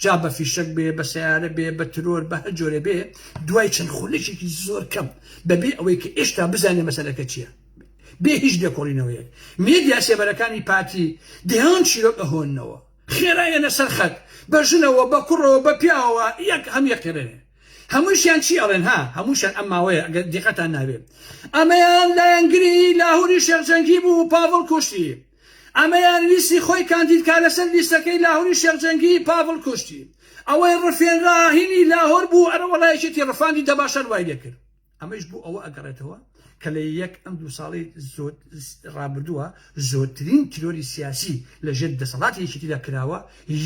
جا بە فیشەک بێ بە سیارە بێ بە ترۆر بە هەر جۆرە بێ دوای چەند خولێکێکی زۆر کەم بەبێ ئەوەی کە ئێشتا بزانێ مەسەلەکە چییە بێ هیچ لێکۆڵینەوەیەک مێدیا سێبەرەکانی پارتی دەیان چیرۆک ئەهۆنەوە خێرایەنە سەرخەت بە ژنەوە بە کوڕەوە بە پیاوە یەک هەم یەکێنێ هەمووشیان چی ئەڵێن ها هەمووشیان ئەم ماوەیە ئەگەر دیقەتان نابێ ئەمەیان لایەنگری لاهوری شێخ جەنگی بوو و پاڤڵ کوشتی ئەمەیان ویستی خۆی کاندید کا لەسەر لیستەکەی لاهوری شێخ جەنگی پاڤڵ کوشتی ئەوەی ڕفێنرا هینی لاهور بوو ئەرەوەڵا یەکێتی ڕفاندی دەباشان وای لێکرد ئەمەیش بۆ ئەوە ئەگەڕێتەوە کە لە یەک ئەم دوو ساڵی ڕابردووە زۆرترین تیرۆری سیاسی لە ژێر دەسەڵاتی یەکێتیدا کراوە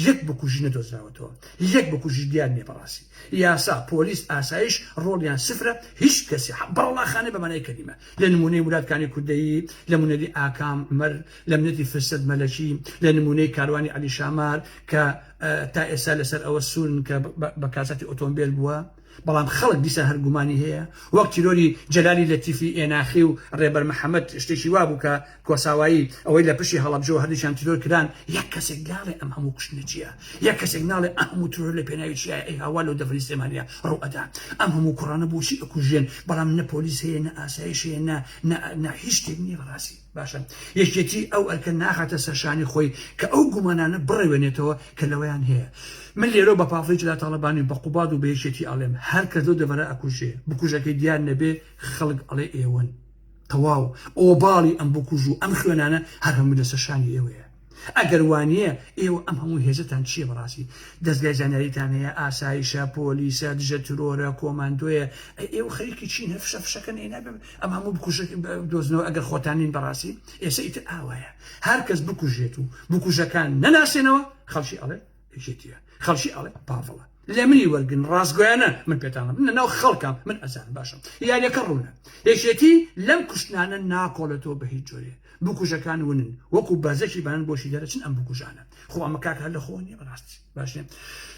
یەک بکوژی نەدۆزراوەتەوە یەک بکوژی دیار نیە بەڕاستی یاسا پۆلیس ئاسایش ڕۆڵیان سفرە هیچ کەسی بەڕڵاخانە بەمانای کەلیمە لە نمونەی مرادکانی کوردەیی لە منەری ئاکام مەر لە منەتی فرسەت مەلەکی لە نمونەی کاروانی علی شامار کە تا ئێستا لەسەر ئەوە سوورن کە بە کاسەتی ئۆتۆمبیل بووە بەڵام خەڵک دیسان هەر گومانی هەیە، وەک تیرۆری جەلالی لەتیفی ئێناخی و رێبەر محەمەد شتێکی وابوو کە کۆساوایی، ئەوەی لە پشتی هەڵەبجە و هەردووکیان تیرۆر کران، یەک کەسێک ناڵێ ئەم هەموو کوشتنە چیە؟ یەک کەسێک ناڵێ ئە هەموو ترۆر لە پێناوی چیایە؟ ئەی هاوار لەو دەڤەری سلێمانیە ڕوو ئەدات؟ ئەم هەموو کوڕانە بۆچی ئەکوژرێن؟ بەڵام نە پۆلیس هەیە نە ئاسایش هەیە نە نە نە هیچ شتێک نیە بەڕاستی. باشە یەکێتی ئەو ئەرکە ناخاتە سەرشانی خۆی کە ئەو گومانانە بڕەوێنێتەوە کە لەوەیان هەیە من لێرەو بە پافڵی جەلا تاڵەبانی و بە قوباد و بە یەکێتی ئەڵێم هەر کەس لەو دەڤەرە ئەکوژێ بکوژەکەی دیار نەبێ خەڵک ئەڵێ ئێوەن تەواو ئۆباڵی ئەم بکوژ و ئەم خوێنانە هەر هەمووی لەسەر شانی ئێوەیە. ئەگەر وانیە ئێوە ئەم هەموو هێزەتان چیە بەڕاستی دەزگای زانیاریتان هەیە ئاسایشە پۆلیسە دژە ترۆرە کۆماندۆیە ئەی ئێوە خەریکی چین هەر فشە فشەکەن ئەی نابێ ئەم هەموو بکوژە دۆزنەوە ئەگەر خۆتان نین بەڕاستی ئێسە ئیتر ئاوایە هەر کەس بکوژێت و بکوژەکان نەناسێنەوە خەڵکی ئەڵێ یەکێتیە خەڵکی ئەڵێ پاڤڵە لە منی وەرگن ڕاستگویانە من پێتانە من ناو خەڵکم من ئەزان باشم یاریەکە ڕوونە یەکێتی لەم کوشتنانە ناکۆڵێتەوە بە هیچ جۆرێ بکوژەکان ونن وەکو بەزەکی بان بۆشی دەرەچن ئەم بکوژانە خۆ ئەمە کاکە لە خۆنی بەڕاستی باشێ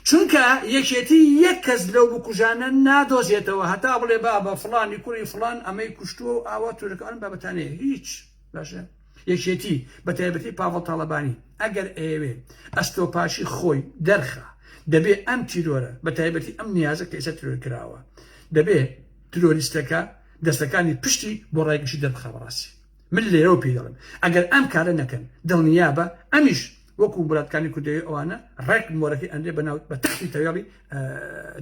چونکە یەکێتی یەک کەس لەو بکوژانە نادۆزێتەوە هەتا بڵێ بابە فلانی کوڕی فلان ئەمەی کوشتووە و ئاوا تورەکان بابەتانەیە هیچ باشە یەکێتی، بە تایبەتی پاڤڵ تاڵەبانی، ئەگەر ئەیەوێ ئەستۆپاشی خۆی دەرخا، دەبێ ئەم تیرۆرە، بە تایبەتی ئەم نیازە کە ئێستا تیرۆر کراوە، دەبێ تیرۆریستەکە دەستەکانی پشتی بۆ ڕای گشتی دەربخا بە ڕاستی. من لێرەوە پێی دەڵێم ئەگەر ئەم کارە نەکەن، دڵنیابە ئەمیش. وەکو ولاتکانی کوردەوی ئەوانە ڕێک مۆرەکەی ئەنرێ بە ناو بە تەختی تەوێڵی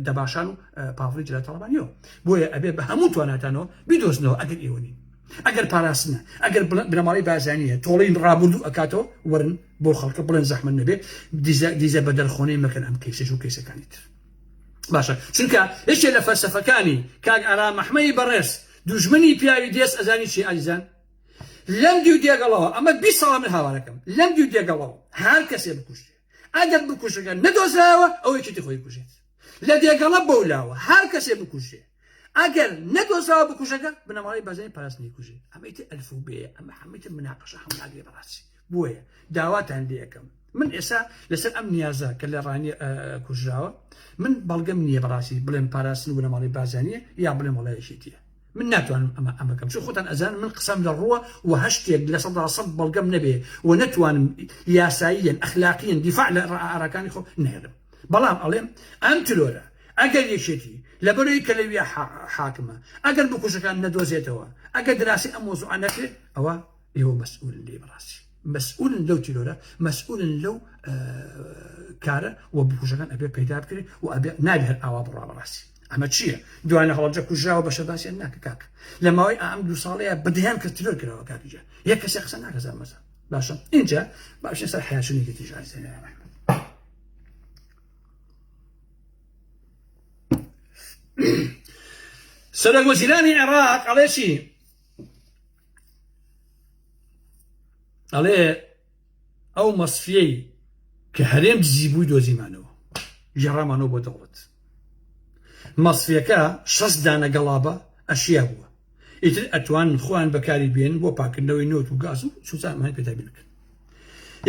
دەباشان و پاڤڵی جلای تەڵەبانیەوە بۆیە ئەبێ بە هەموو تواناتانەوە بیدۆزنەوە ئەگەر ئێوەنی ئەگەر پاراستنە ئەگەر بنەماڵی بازانیە تۆڵین ڕابردوو ئەکاتەوە ورن بۆ خەڵکە بڵێن زەحمە نەبێ دیزە بە دەرخۆنەی مەکەن ئەم کەیسەش و کەیسەکانی تر باشە چونکە یەکێ لە فەرسەفەکانی کاک ئارا مەحمەی بەڕێز دوژمنی پیاوی دێست ئەزانی چی ئازیزان لەم دوو دێگەڵەوە ئەمە بیست ساڵە من هاوارەکەم لەم دوو دێگەڵەوە هەر کەسێ بکوژرێ ئەگەر بکوژەکە نەدۆزرایەوە ئەو یەکێتی خۆی بکوژێت لە دێگەڵە بەو لاوە هەر کەسێ بکوژێ ئەگەر نەدۆزراوە بکوژەکە بنەماڵەی بەزای پاراستنی کوژێ ئەمەیتر ئەلفوبێیە ئەمە هەمەیتر مناقەشە هەم ناگرێ بەڕاستی بۆیە داواتان لێئەکەم من ئێستا لەسەر ئەم نیازە کە لە ڕانیە کوژراوە من بەڵگەم نییە بەڕاستی بڵێم پاراستن بنەماڵەی بارزانیە یا بڵێم وڵایەکێتیە من ناتوانم ئەمە ئەمەکەم چون خۆتان ئەزان من قسەم لە ڕووە و هەشتێک لە سەدا سەد بەڵگەم نەبێ و نەتوانم یاساییەن ئەخلاقیەن دیفاع لە ئاراکانی خۆ نێرم بەڵام ئەڵێم ئەم ترۆرە ئەگەر یەکێتی لەبەرەوەی کە لەویا حاکمە ئەگەر بکوژەکان نەدۆزێتەوە ئەگەر دراسی ئەم مۆزوعە نەکرێت ئەوە ئێوە مەسئولن لێی بەڕاستی مەسئولن لەو تیرۆرە مەسئولن لەو کارە و بکوژەکان ئەبێ پەیدا بکرێت و ئەبێ نابێ هەر ئاوا بڕا بەڕاستی ئەمە چییە دوانە هەڵجە کوژراوە بە شەباسیان ناکە کاک لە ماوەی ئەم دو ساڵەیە بدەیان کە ترۆر کراوە کاکجە یە کەسێ قسە ناکەزا مەزە باشە اینجا باشە سەر حیاچونی گەتی ژازێنە سەرۆک وەزیرانی عێراق ئەڵێ چی ئەڵێ ئەو مەسفیەی کە هەرێم دزی بووی دۆزیمانەوە گێڕامانەوە بۆ دەوڵەت مەسفەکە شەست دانە گەڵابە ئەشیا بووە ئیتر ئەتوان خۆیان بەکاری بێن بۆ پاکردنەوەی نۆت و گاز و سوزانمان پێدا بکەن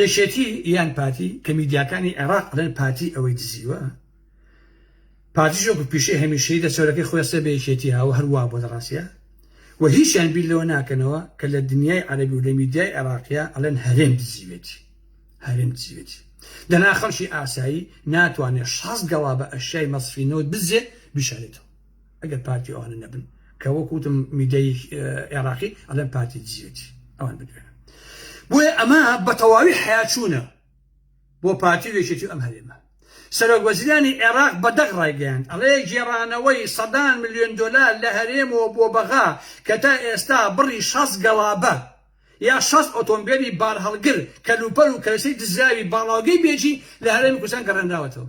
یەکێتی یان پارتی کە میدیاکانی عێراق لەن پارتی ئەوەی دزیوە پارتیش وەکو پیشەی هەمیشەی لە چەورەکەی خۆی ڕسێ بە یەکێتی هاوە هەر وا بۆ دەڕاسیە و هیچیان بیر لەوە ناکەنەوە کە لە دنیای عەرەبی و لە میدیای عێراقیە ئەڵێن هەرێم دزیوێتی هەرێم دزیوێتی دەنا خەڵکی ئاسایی ناتوانێت شاز گەڵا بە ئەشیای مەسفی نەوت بزێ بیشارێتەوە ئەگەر پارتی ئەوانە نەبن کە وەکوتم میدیای عێراقی ئەڵێن پارتی دزیوێتی ئەوان بدوێن بۆیە ئەمە بە تەواوی حیاچوونە بۆ پارتی و یەکێتی و ئەم هەرێمە. سەرۆک وەزیرانی عێراق بە دەق ڕایگەیاند، ئەڵێ گێڕانەوەی سەدان ملیۆن دۆلار لە هەرێمەوە بۆ بەغا کە تا ئێستا بڕی شەست گەڵابە یا شەست ئۆتۆمبێلی بارهەڵگر، کەلوپەل و کەرەسەی دزراوی باڵاوگەی بێجی لە هەرێمی کوردستان گەڕێنراوەتەوە.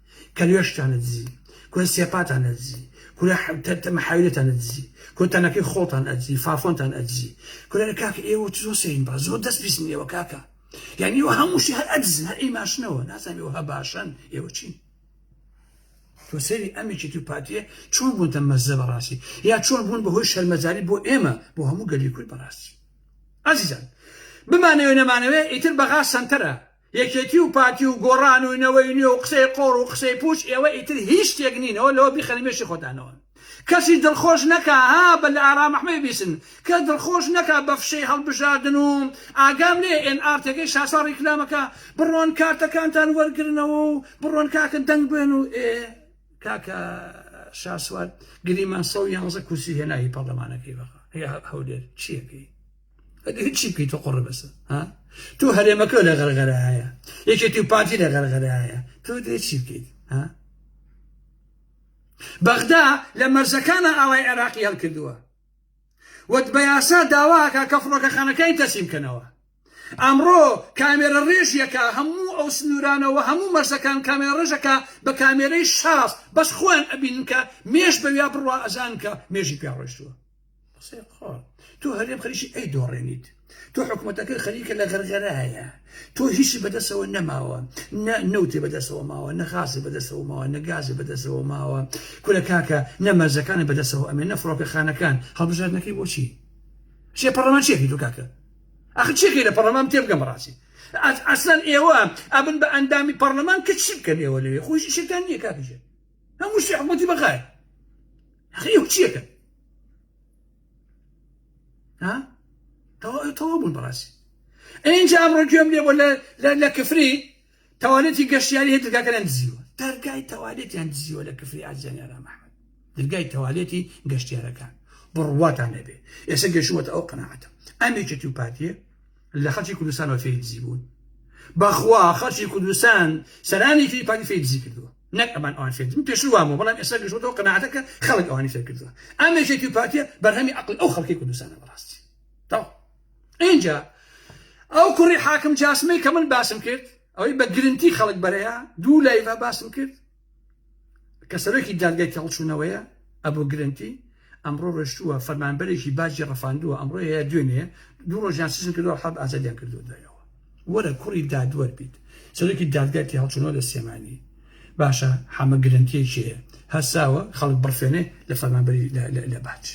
کە لوێشتان ئەدزی کورە سێپاتان ئەدزی کورە محاویلتان ئەدزی کورە تەنەکەی خۆڵتان ئەدزی فافۆنتان ئەدزی کورە کاکە ئێوە زۆر سەین با زۆر دەست پیسن ئێوە کاکە یعنی ئێوە هەمووشی هەر ئەدزن هەر ئەی ماشنەوە نازانم ئێوە هە باشن ئێوە چین تۆ سەری ئەمێکی تو پاتیە چۆن بوون تە مەزە بەڕاستی یا چۆن بوون بەهۆی شەرمەزاری بۆ ئێمە بۆ هەموو گەلی کورد بەڕاستی ئازیزان بمانەوێ نەمانەوێ ئیتر بەغا سەنتەرە یەکێتی و پارتی و گۆڕان و نەوەی نوێ و قسەی قۆڕ و قسەی پوچ ئێوە ئیتر هیچ شتێک نین ئەوە لەوە بیخەنە مێشی خۆتانەوە کەسی دڵخۆش نەکا ها بە لە ئارام ئەحمەی بیسن کەس دڵخۆش نەکا بە فشەی هەڵبژاردن و ئاگام لێیە ئێن ئار تێگەی شاسوار ڕیکلامەکە بڕۆن کارتەکانتان وەرگرنەوە و بڕۆن کاکە دەنگ بێن و ئێ کاکە شاسوار گریمان سەد و یانزە کورسی هێنا هی پەڕلەمانەکەی بەخا هەولێر چیەکەی هیچی بکەیتە قڕ بەسە تو هەرێمەکە لە غەرغەرە هەیە یەکێتی و پارتی لە غەرغەرە هەیە تۆ دێچی بکەیت بەغدا لە مەرزەکانە ئاوای عێراقی هەڵکردووە وەت بە یاسا داواکە کە فڕۆکەخانەکانی تەسیم کەنەوە ئەمڕۆ کامێرە ڕێژیەکە هەموو ئەو سنوورانەوە هەموو مەرزەکان کامێرە ڕێژەکە بە کامێرەی شاز بەس خۆیان ئەبین کە مێش بەویا بڕوا ئەزان کە مێژی پێڕۆشتووە قسەی قۆڕ تۆ هەرێم خەریکی ئەی دۆڕێنیت تۆ حکوومەتەکەی خەریکە لە غەرغەرایە تۆ هیچی بەدەستەوە نەماوە نە نەوتی بەدەستەوە ماوە نەخاسی بەدەستەوە ماوە نەگازی بەدەستەوە ماوە کورە کاکە نەمەرزەکانی بەدەستەوە ئەمێ نە فڕۆکەخانەکان هەڵبژاردنەکەی بۆچی چێ پەڕەمان چێکی دوو کاکە ئەخ چێکی لە پەڕەمان تێبگەم ڕاستی ئەسلەن ئێوە ئەبن بە ئەندامی پەرلەمان کە چی بکەن ئێوە لەوێ خۆشی شەکان نییە کاکژێ هەموو شتێ حکووتی بەغای حقی چیەکە ها تەواو تەواو بوون بەڕاستی ئینجا ئەمڕۆ گوێم لێ بۆ لە کفری تەوالێتی گەشتیاری هەیە دەرگاکەیان دزیوە دەرگای تەوالێتیان دزیوە لە کفری ئازیانیارا محمد دەرگای تەوالێتی گەشتیارەکان بڕواتان نەبێ ئێستا گەشوەتە ئەو قەنەعەتە ئەمێکێتی و پارتیە لە خەڵکی کوردستانەوە فێری دزی بوون بەخوا خەڵکی کوردستان سەرانێکی پارتی فێری دزی کردووە نەک ئەمان ئەوان فێر من پێشتر وام بوو بەڵام ئێستا گەشتوەتەوە قەناعەتە کە خەڵک ئەوانی فێر کردووە ئەم یەکێتی و پارتیە بەرهەمی عەقڵی ئەو خەڵکی کوردستانە بەڕاستی تەواو ئینجا ئەو کوڕی حاکم جاسمەی کە من باسم کرد ئەوەی بە گرنتی خەڵک بەرەیە دوو لایڤە باسم کرد کە سەرۆکی دادگای تێڵچوونەوەیە ئەبوو گرنتی ئەمڕۆ ڕۆشتووە فەرمانبەرێکی باجی ڕفاندووە ئەمڕۆ یا دوێنێ دوو ڕۆژیان سجن کردووە حەب ئازادیان کردووە دوایەوە وەرە کوڕی دادوەر بیت سەرۆکی دادگای تێهەڵچوونەوە لە سلێمانی باشە حەمە گرنتیەکی هەیە هەرساوە خەڵک بڕفێنێ لە فەرمانبەری لە باج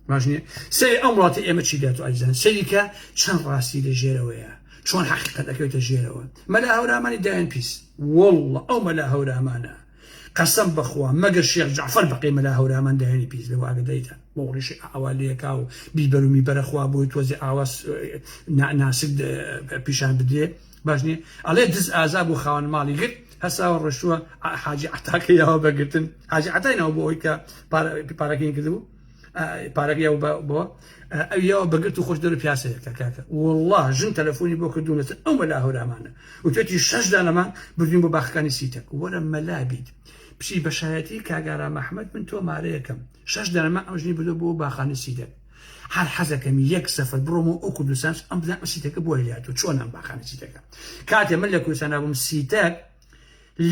باش نییە سەری ئەم وڵاتی ئێمە چی دێت و ئەزان سەریکە چەند ڕاستی لە ژێرەوەیە چۆن حەقیقەت ئەکەوێتە ژێرەوە مەلا هەورامانی دایان پیس وەڵڵە ئەو مەلا هەورامانە قەسەم بەخوا مەگەر شێخ جەعفەر بەقەی مەلا هەورامان دایانی پیس بێ وئاگدەیتە بۆ ڕیشی ئاوا لێکا و بیبەر و میبەرە خوا بۆی تۆزێ ئاوا ناسک پیشان بدرێ باش نیە ئەڵێ دز ئازا بۆ خاوەن ماڵی گرت هەساوە ڕۆشتووە حاجی عتاکە یاوە بەگرتن حاجی عتای ناو بۆ ئەوی کە پارەکەی کردبوو پارەکە یاو بە بۆ ئەو یاوە بەگرت و خۆش دەرو پیاسەیەکە کاکە والله ژن تەلەفۆنی بۆ کردوونەتە ئەو مەلا هەورامانە وتێتی شەش دانەمان بردوین بۆ باخەکانی سیتەک وەرە مەلا بیت بچی بەشایەتی کاگارا مححمد من تۆ مارەیەکەم شەش دانەمە ئەم ژنی بردو بۆ باخانی سیدەک هەر حەزەکەم یەک سەفەر بڕۆمەوە ئەو کوردستان ئەم بزان سیتەکە بۆ هیاتوە چۆن ئەم باخانی سیتەکە کاتێ من لە کوردستان نابووم سیتەک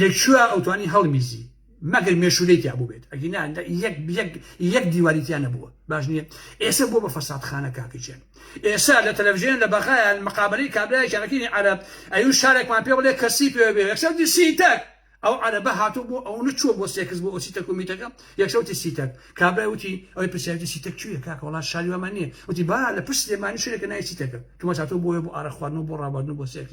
لە کوێ ئەوتوانی هەڵمیزی مەگەر مێشولەی تیا بووبێت ئەگینا یەک دیواری تیا نەبووە باش نییە ئێستا بۆ بە فەسادخانە کاکەجێن ئێستا لە تەلەڤژێن لە بەغایان مقابلەی کابرای کاکینی عەرب ئەو شارێکمان پێ بڵێ کەسی پێ بێ یەکسەوتی سیتەک ئەو عەرەبە هاتوو بۆ ئەو نەچووە بۆ سێکس بۆ ئۆسی تەکومیتەکە یەکسەوتی سیتەک کابرای وتی ئەوی پرسیاری سیتەک کوێ کاکە وڵات شاری وامان نییە وتی با لە پشت سلێمانی شوێنێکە نای سیتەکە کەمە هاتوو بۆیە بۆ ئارە خواردن و بۆ ڕابواردن و بۆ سێکس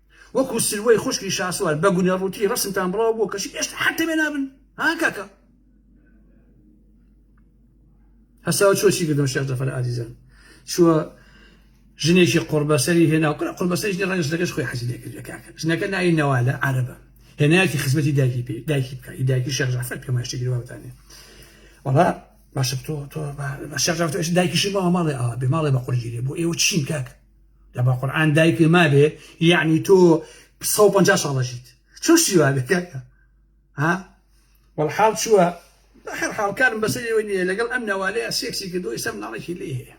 وەکو سروەی خوشکی شاسوار بە گونە ڕووتی ڕەسمتان بڵاو بووە کەچی ئێشتا حەد تەمێ نابن ها کاکە هەساوە چۆ چی کردەوە شێخ جەفەر ئازیزان چووە ژنێکی قڕبەسەری هێنا و کرا قڕبەسەری ژنی ڕەنگە ژنەکەش خۆی حەزی لێکرد لە کاکە ژنەکە ناوی نەوالە عەرەبە هێنایەتی خزمەتی دایکی پێ دایکی بکە هی دایکی شێخ جەفەر پێما شتێکی واوتانێ وەڵا باشە تۆ تۆ بە شێخ جەفەر دایکیشی باوە ماڵێ ئاوا بێ ماڵێ بە قورگیری بۆ ئێوە چین کاکە لە بە قورعان دایکێ مابێ یعنی تۆ سە و پەنجا ساڵ دەژیت چۆن شتی وا بێ کاکە ها وەڵحاڵ چووە بە هەر حاڵکارم بەسەر ئێوە نییە لەگەڵ ئەم نەوالەیە سێکسی کردو ئیسە مناڵێکی لێ هەیە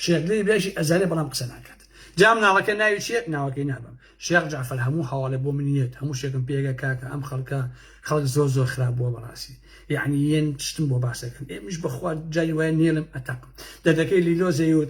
شێخدری بێژی ئەزارێ بەڵام قسە ناکات جام ناڵەکە ناوی چیە ناوەکەی نابم شێخ جعفر هەموو هەواڵێ بۆ منیت هەموو شێکم پێگە کاکە ئەم خەڵکە خەڵک زۆر زۆر خراپ بووە بەڕاستی یعنی یەن شتم بۆ باسەکەم ئێمش بەخوا جای وای نێلم ئەتەقم دەدەکەی لیلۆ زەیوت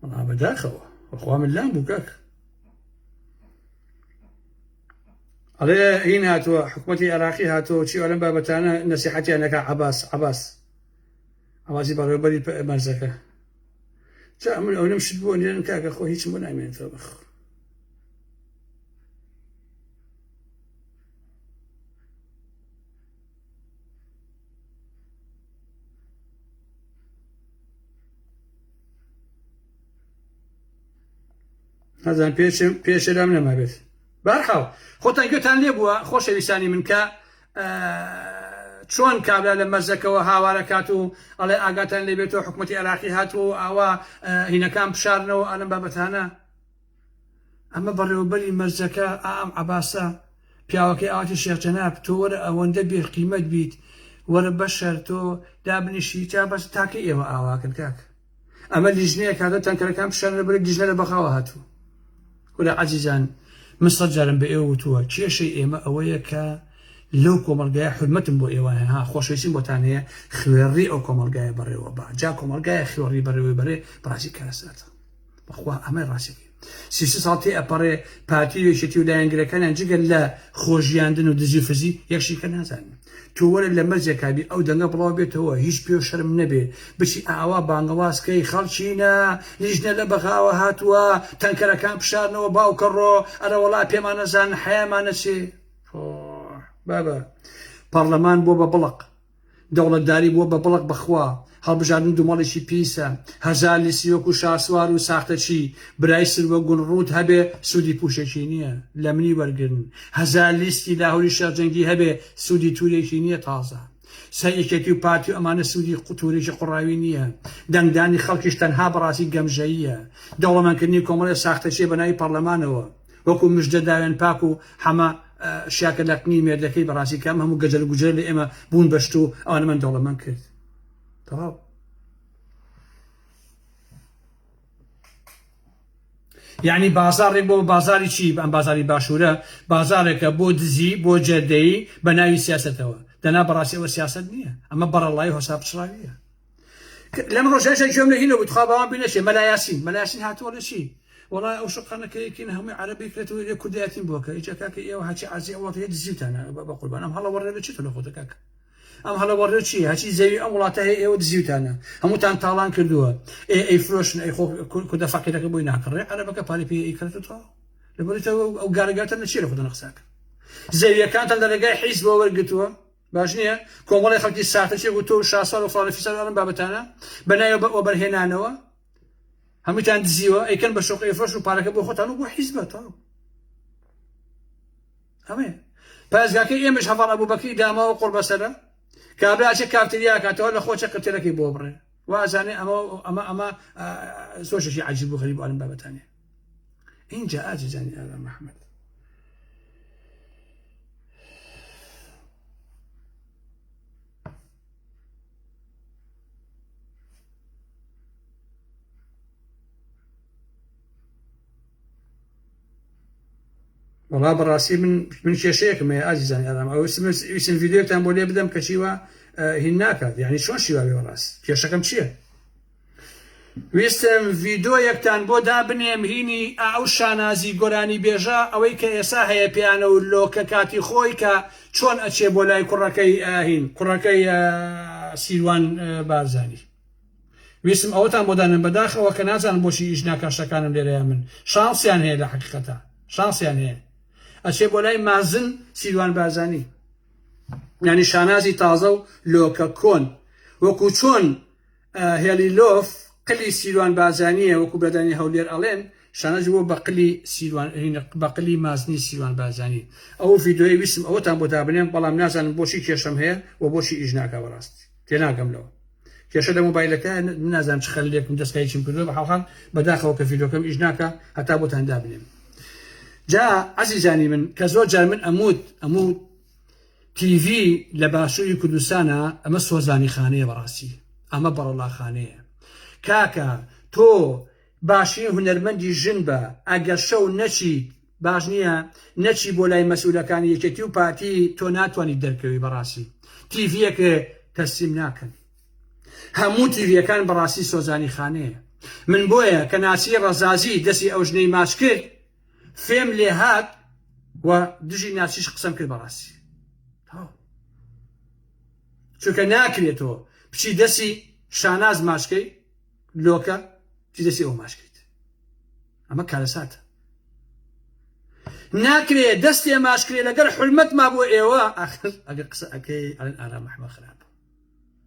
وەڵا بەداخەوە بەخوا من لام بوو کاک ئەڵێ هین هاتووە حکوومەتی عێراقی هاتەوە چی ئەلم بابەتانە نەسیحەتیانەکە عباس عباس ئەوازی بەڕێوبەری مەرزەکە جا من ئەو نم شت بۆ نێن کاکە خۆ هیچ بۆ نامێنێتەوە بەخۆ نازان پێشم پێشرام نەمابێت بارحاڵ خۆتان گوێتان لێ بووە خۆشەویستانی من کە چۆن کابرا لە مەزەکەەوە هاوارە کات و ئەڵێ ئاگاتان لێبێتەوە حکوومەتتی عراقی هاتووە و ئاوا هینەکان بشارنەوە ئەلم بابەتانە ئەمە بەڕێوەبەری مەرجەکە ئا ئەم عەباسە پیاوەکەی ئاواتی شێخ جەناب تۆ وەرە ئەوەندە بێ قیمەت بیت وەرە بەشەر تۆ دابنیشی تا بەس تاکە ئێوە ئاواکەن کاک ئەمە لیژنەیە کاتە تەنکەرەکان پیشانە بەرە لیژنە لە بەغاوە هاتوو ولا عزیزان من سەد جارم بە ئێوە وتووە کێشەی ئێمە ئەوەیە کە لەو کۆمەلگایە حرمەتم بۆ ئێوە هەیە ها خۆشەویستیم بۆتان هەیە خوێڕی ئەو کۆمەلگایە بەڕێوە با جا کۆمەلگایە خوێڕی بەڕێوەی بەرێ بەڕاستی کارەساتە بەخوا ئەمە ڕاستەکەی سی سێ ساڵ تێ ئەپەڕێ پارتی و یەکێتی و لایەنگرەکانیان جگە لە خۆژیاندن و دزی فزی یەکشیکە نازانن تۆ وەرە لە مەرجێکابی ئەو دەنگە بڵاو بێتەوە هیچ پێ و شەرم نەبێ بچی ئاوا بانگەوازکەی خەڵچینە لیژنە لە بەغاوە هاتووە تەنکەرەکان پشارنەوە باوکە ڕۆ ئەرەوەڵا پێمانەزان حەیامانەچێ بابە پەرلەمان بۆ بە بڵق دەوڵەتداری بووە بە بڵق بەخوا هەڵبژاردن دومەڵیکی پیسە هەزار لیستی وەکو شاسوار و ساختەچی برای سروە گون ڕووت هەبێ سودی پوشەکی نیە لەمنی وەرگرن هەزار لیستی لاهوری شێخ جەنگی هەبێ سودی تورێکی نیە تازە سەر یەکێتی و پارتی و ئەمانە سودی تورێکی قوڕاوی نیە دەنگدانی خەڵکیش تەنها بەڕاستی گەمژەییە دەوڵەمەندکردنی کۆمەڵێ ساختەچیە بەناوی پەڕلەمانەوە وەکو مژدە داوێن پاک و حەمە شیاکە لەقنی مێردەکەی بەڕاستی کەم هەموو گەجەل گوجرە لە ئێمە بوون بەشت و ئەوانە من دەوڵەمەند کرد تەواو یعنی بازارێک بۆ بازاری چی ئەم بازاری باشوورە بازارێکە بۆ دزی بۆ جێدەیی بە ناوی سیاستەوە دەنا بەڕاستیەوە سیاست نییە ئەمە بەڕەڵای هۆسا پچڕاویە لەم ڕۆژە ژە گوێم لە هینە بوو تخوا باوان بی نەچێ مەلا یاسین مەلا یاسین هاتووە لە چی وڵای ئەو شقانەکەیەکین هەمووی عەرەبی کرێتەوە لێ کوردایەتیم بووە کە ئیجا کاکە ئێوە هەچی عەزی ئەو وڵاتەیە دزیوتانە بە قوربان ئەم هەڵە وەڕێ لە چیتە لە خۆتە کاکە ئەم هەڵە وەڕێ چی هەچی زەوی ئەم وڵاتە هەیە ئێوە دزیوتانە هەمووتان تاڵان کردووە ئێ ئەی فرۆشن ئەی خۆ کوردە فەقیرەکە بۆی ناکڕێ عەرەبەکە پارەی پێ ئەی کردوتەوە لەبەرتەوە ئەو گارگاتە لە چی لە خۆتە نەخساکە زەویەکانتان لە ڕێگای حیز بۆ وەرگتووە باش نییە کۆمەڵی خەڵکی ساختە چێک و تۆ و شاسوار و فڵانە فیسار ئەم بابەتانە بە ناوی بە وەبەرهێنانەوە هەمووتان دزیوە ئەیکەن بە شۆقی فرۆش و پارەکە بۆ خۆتان و بۆ حیزبە تاو ئەمێ پارێزگاکە ئێمەش هەڤاڵ ئەبوبەکری داما و قڕبەسەرە کابراچە کافتریاکاتەوە لە خۆچە قتێلەکەی بۆ بڕێ وازانێ ئەمە ئەمە ئەمە سۆشێکی عجیب و غەریب ئەم بابەتانێ این جا ئاجی جانی ئاغا محمد وڵا بەڕاستی من من کێشەیەکم هەیە ئازیزان ئارام ئەوسم ڤیددیوتان بۆ لێ بدەم کەچیوە هین ناکات یعنی چۆن شیواێ بەڕاست کێشەکەم چییە؟ ویستم ڤیدۆ یەکتان بۆ دابنێم هینی ئا ئەو شانازی گۆرانی بێژە ئەوەی کە ئێسا هەیە پێیانە و لۆکە کاتی خۆی کە چۆن ئەچێ بۆ لای کوڕەکەی ئا هین کوڕەکەی ئا سیروان بارزانی ویستم ئەوەتان بۆ دانێم بەداخ ئەوە کە نازانم بۆچی ئیش ناکا شەکانم لێرەیە من شانسیان هەیە لە حەقیقەتە شانسیان هەیە ئەچێ بۆ لای مازن سیروان بارزانی یعنی شانازی تازە و لۆکە کۆن وەکو چۆن هێلی لۆف قلی سیروان بارزانیە وەکو برادانی هەولێر ئەڵێن شانەج بووە بە قلی سیروان بە قلی مازنی سیروان بارزانی ئەو ڤیدۆی ویستم ئەوەتان بۆ دابنێم بەڵام نازانم بۆچی کێشەم هەیە و بۆچی ئیش ناکە بەڕاست تێناگەم لەوە کێشە لە مۆبایلەکە نازان چ خەلێکم دەستکای چیم کردو بە حاڵحال بەداخەوە کە ڤیدۆکەم ئیش ناکە هەتا بۆتان دابنێم جا عزیزانی من کە زۆر جار من ئەموت ئەموت تی ڤی لە باشوری کوردستانا ئەمە سۆزانی خانەیە بەڕاستی ئەمە بەڕەڵا خانەیە کاکە تۆ باشترین هونەرمەندی ژن بە ئەگەر شەو نەچیت باش نییە نەچی بۆ لای مەسئولەکانی یەکێتی و پارتی تۆ ناتوانانی دەرکەوی بەڕاستی تیڤەک تەسلیم ناکەن هەموو تیڤەکان بەڕاستی سۆزانی خانەیە من بۆیە کە ناسی ڕەزازی دەسی ئەو ژنەی ماچ کرد فێم لێ هات و دژی ناسیش قسەم کرد بەڕاستی چونکە ناکرێتەوە بچی دەسی شاناز ماشکەی لۆکە چی دەسی ئەو ماشکەیت ئەمە کارەساتە ناکرێ دەستی ئەماشکرێ لەگەر حلمەت ما بۆ ئێوە ئاخر ئەگە قسە ئەەکەی ئەلەن ئارا محمە خراپ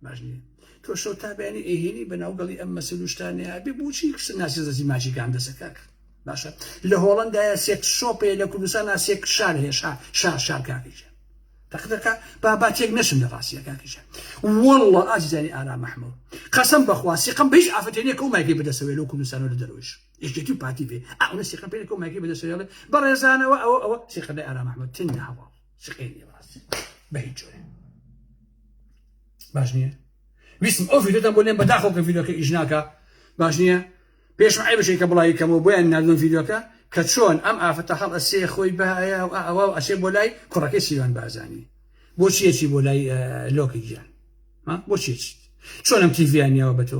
باش نییە تۆ شەو تا بەیانی ئەیهێنی بە ناوگەڵی ئەم مەسل و شتانەیە ئەبێ بۆچی کچە ناسی زەزی ماچی گام دەسە کاک باشە لە هۆڵندایە سێک شۆپێ لە کوردستان ناسێک شار هێشا شار شار کاکیشە تەقدەکە بابا تێک نەشم لە ڕاستیە کاکیشە والله ئازیزانی ئارا محمود قەسم بەخوا سیقم بە هیچ ئافرەتێنێکە و مایکی بدەسەوێ لەو کوردستان و لە دەرۆیش یەکێتی و پارتی بێ ئەوە سیقم پێێکە و مایکی بدەسەوێڵێ بەڕێزانەوە ئەوە ئەوە سیقەدای ئارا محمود تندا هەواڵ سقێ نێواز بە هیچ جۆرێ باش نییە ویسم ئەو ڤیدۆتان بۆ لێم بەداخۆ کە ڤیدۆکە ئیش ناکە باش نییە پێشم ئای بشێکە بڵاوی کەمەوە بۆیان نردن ڤیدۆکە کە چۆن ئەم ئافرەتە هەڵ ئەسێ خۆی بەهەیە و ئەوە و ئەسێ بۆ لای کوڕەکەی سیوان بازانی بۆ چیەچی بۆ لای لۆکی گیان بۆ چیچ چۆنم تیڤیانیەوە بە تۆ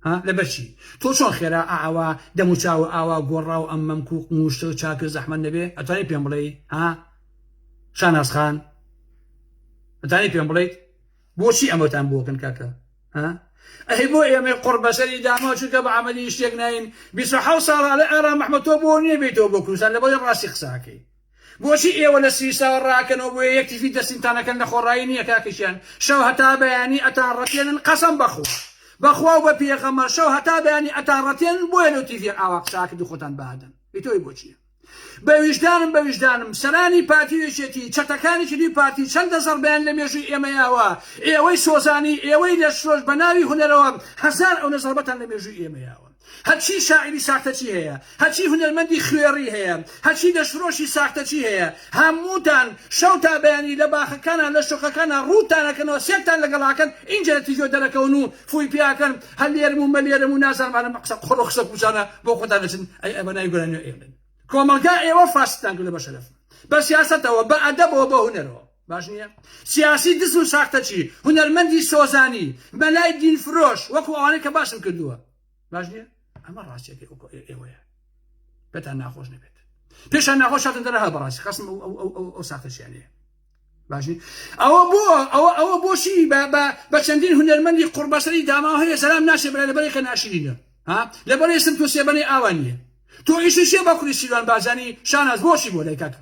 ها لەبەرچی تۆ چۆن خێرا ئاوا دەم و چاو و ئاوا گۆڕا و ئەم مەمک و قموشتە و چاکە زەحمەت نەبێ ئەتوانی پێم بڵێی ها شاناز خان ئەتانی پێم بڵێیت بۆچی ئەمەتان بۆکن کاکە ها ئەهی بۆ ئێمە قڕ بەسەری داماو چونکە بە عملی شتێک ناین بیست حەوت ساڵە لە ئارام محمد تۆ بۆ نییە بێتەوە بۆ کوردستان لەبەڵێ ڕاستی قساکەی بۆچی ئێوە لە سویساوە ڕاکەنەوە بۆیە یەک تیفی دەستینتان ئەکەن لە خۆڕایی نیە کاکە ژیان شەو هەتا بەیانی ئەتان ڕەتێنن قەسەم بەخوا بەخوا و بە پێغەمبەر شەو هەتا بەیانی ئەتان ڕەتێنن بۆیە لەو تیڤیە ئاوا قسە ئاکردو خۆتان بەهادەن ئیتۆی بۆچیە بە ویژدانم بە ویژدانم سەرانی پارتی و یەکێتی چەتەکانی تری پارتی چەندە زەڕبەیان لە مێژووی ئێمە یاوە ئێوەی سۆزانی ئێوەی لەشفرۆش بە ناوی هونەرەوە هەزار ئەونە زەڕبەتان لە مێژووی ئێمە یاوە هەرچی شاعیری ساختەچی هەیە، هەرچی هونەرمەندی خوێڕی هەیە، هەرچی دەستفرۆشی ساختەچی هەیە، هەمووتان شەو تا بەیانی لە باخەکانا لە شۆخەکانا ڕووتان ئەکەنەوە سێرتان لەگەڵ ئاکەن ئینجا لە تیڤیەوە دەرەکەون و فووی پێ ئەکەن هەلێرم و مەلێرم و نازانم ئەرم قسە قۆڕ و قسە پوچانە بۆ خۆتان ئەچن ئەی ئەبە ناوی گۆرانیەوە ئەیڵێن کۆمەڵگا ئێوە فاسدتان کردوە بە شەرەف بە سیاسەتەوە بە ئەدەبەوە بە هونەرەوە. باش نیە؟ سیاسی دز و ساختەچی، هونەرمەندی سۆزانی، مەلای دین فرۆش، وەکو ئەوانەی کە باسم کردووە. باش نیە؟ ئەمە ڕاستیەکەی وەکو ئێوەیە. پێتان ناخۆش نەبێت. پێشان ناخۆش هاتن دەرە هە بەڕاستی خەسم ئەو ئەو ئەو ئەو ئەو ساختەچیانەیە. باشی ئەوە بۆ ئەوە ئەوە بۆشی بە بە بە چەندین هونەرمەندی قڕبەسەری داماو هەیە سەرام ناشێ برای لەبەرێ کە ناشرینە ها لەبەرێ سم تۆ سێبەنەی ئاوان نیە تۆ ئیشی شێ بە کوری سیروان بازانی شاناز بۆشی بۆ لای کاکە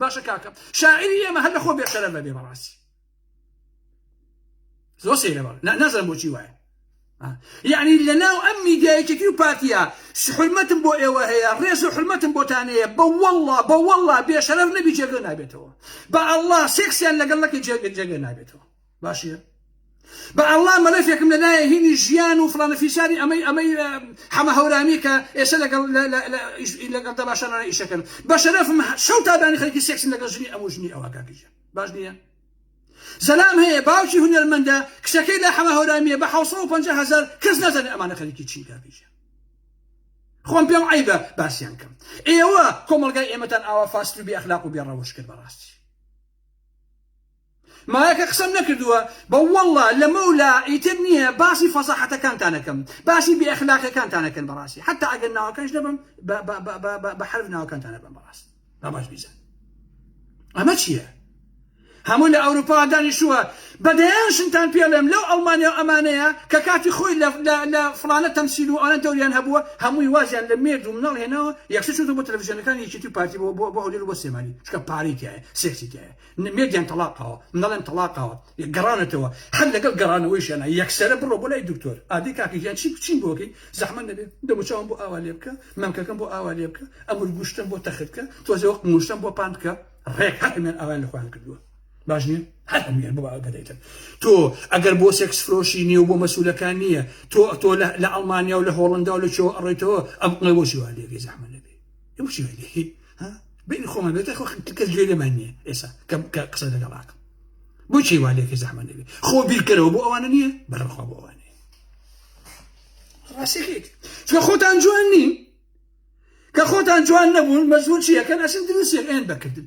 باشە کاکە شاعری ئێمە هەر لەخۆ بێشەرە بەبێ بەڕاستی زۆر سەیرە بەڵ نازم بۆچی وایە یعنی لە ناو ئەم میدیایەکێکی و پارتیا حرمەتم بۆ ئێوە هەیە ڕێز و حرمەتم بۆتانەیە بە وەڵا بە وەڵا بێشەرەر نەبی جێگە نابێتەوە بە ئەللا سێکسیان لەگەڵ نەکە جێگە جێگە نابێتەوە باشیە بە ئەڵا مەلەفێکم لە لایە هینی ژیان و فلانە فیساری ئەمەی ئەمەی حەمە هەورامی کە ئێستا لەگەڵ لەگەڵ دە باشە لەای ئیشەکەن بە شەرەفم شەو تادانی خەڵکی سێکسن لەگەڵ ژنی ئەم ژنی ئەوە کاکیژە باش نییە زەلام هەیە باوکی هونەرمەندە کچەکەی لە حەمە هەورامیە بە 550 هزار کەس نازانێ ئەمانە خەریکی چین کاکیژە خۆم پێم عیبە باسییان کەم ئێوە کۆمەلگای ئێمەتان ئاوا فاست و بێ ئەخلاق و بێ ڕەوش کرد بەڕاستی مایەکە قسەم نەکردووە بە واللە لەمە و لا ئیتر نییە باسی فەزاحەتەکانتان ئەکەم باسی بێ ئەخلاقیەکانتان ئەکەن بەڕاستی حەتا ئەگەر ناوەکانش نەبەم بە حەرف ناوەکانتان ئەبەم بەڕاست با باش بیزان ئەمە چییە هەموو لە ئەوروپا دانیشووە بەدەیان شنتان پێڵێم لەو ئەڵمانیا و ئەمانەیە کە کاتی خۆی لە فلانە تەمسیل و ئەوان تەوریان هەبووە هەمووی وازیان لە مێرد و مناڵ هێناوە یەکسە چوتە بۆ تەلەڤیزیۆنەکان یەکێتی پارتی بۆ بۆ بۆ هەولێر بۆ سێمانی چکە پارەی تایە سێکسی تایە نە مێدیان تەڵاقاوە نەڵێن تەڵاقاوە گەڕانەتەوە هەر لەگەڵ گەڕانەوەیشیانا یەکسەرە بڕۆ بۆ لای دکتۆر ئادەی کاکە گیان چی چیم بۆ بکەی زەحمەت نەبێ دەموچاوم بۆ ئاوا لێ بکە مەمکەکەم بۆ ئاوا لێ بکە ئەمر گوشتم بۆ تەخت بکە تۆزێ وەک موشتم بۆ پان بکە ڕێک هەر هەمیان ئاوایان لە خۆیان کردووە باش نییە هەر هەمویان بۆ ئاوا دەدەیتن تۆ ئەگەر بۆ سێکس فرۆشی نییە و بۆ مەسوولەکان نییە تۆ تۆ لە ئەڵمانیا و لە هۆڵندا و لە چۆ ئەڕۆیتەوە ئەم قڵەی بۆچی وا لێگەی زەحمەت نەبێ ئەو چی وێنێ هی ها بینی خۆمان بێت خۆ کەس گوێ لێمان نییە ئێستا کەم کە قسە لەگەڵ ئاکەم بۆ چی وا لێکە زەحمەت نەبێت خۆ بیرکەرەوە بۆ ئەوانە نییە بەرەخوا بۆ ئەوانە ڕاستەکەیت چکە خۆتان جوان نین کە خۆتان جوان نەبوون مەزور چیەکەن ئەسن دروستێک ئێن بەکردن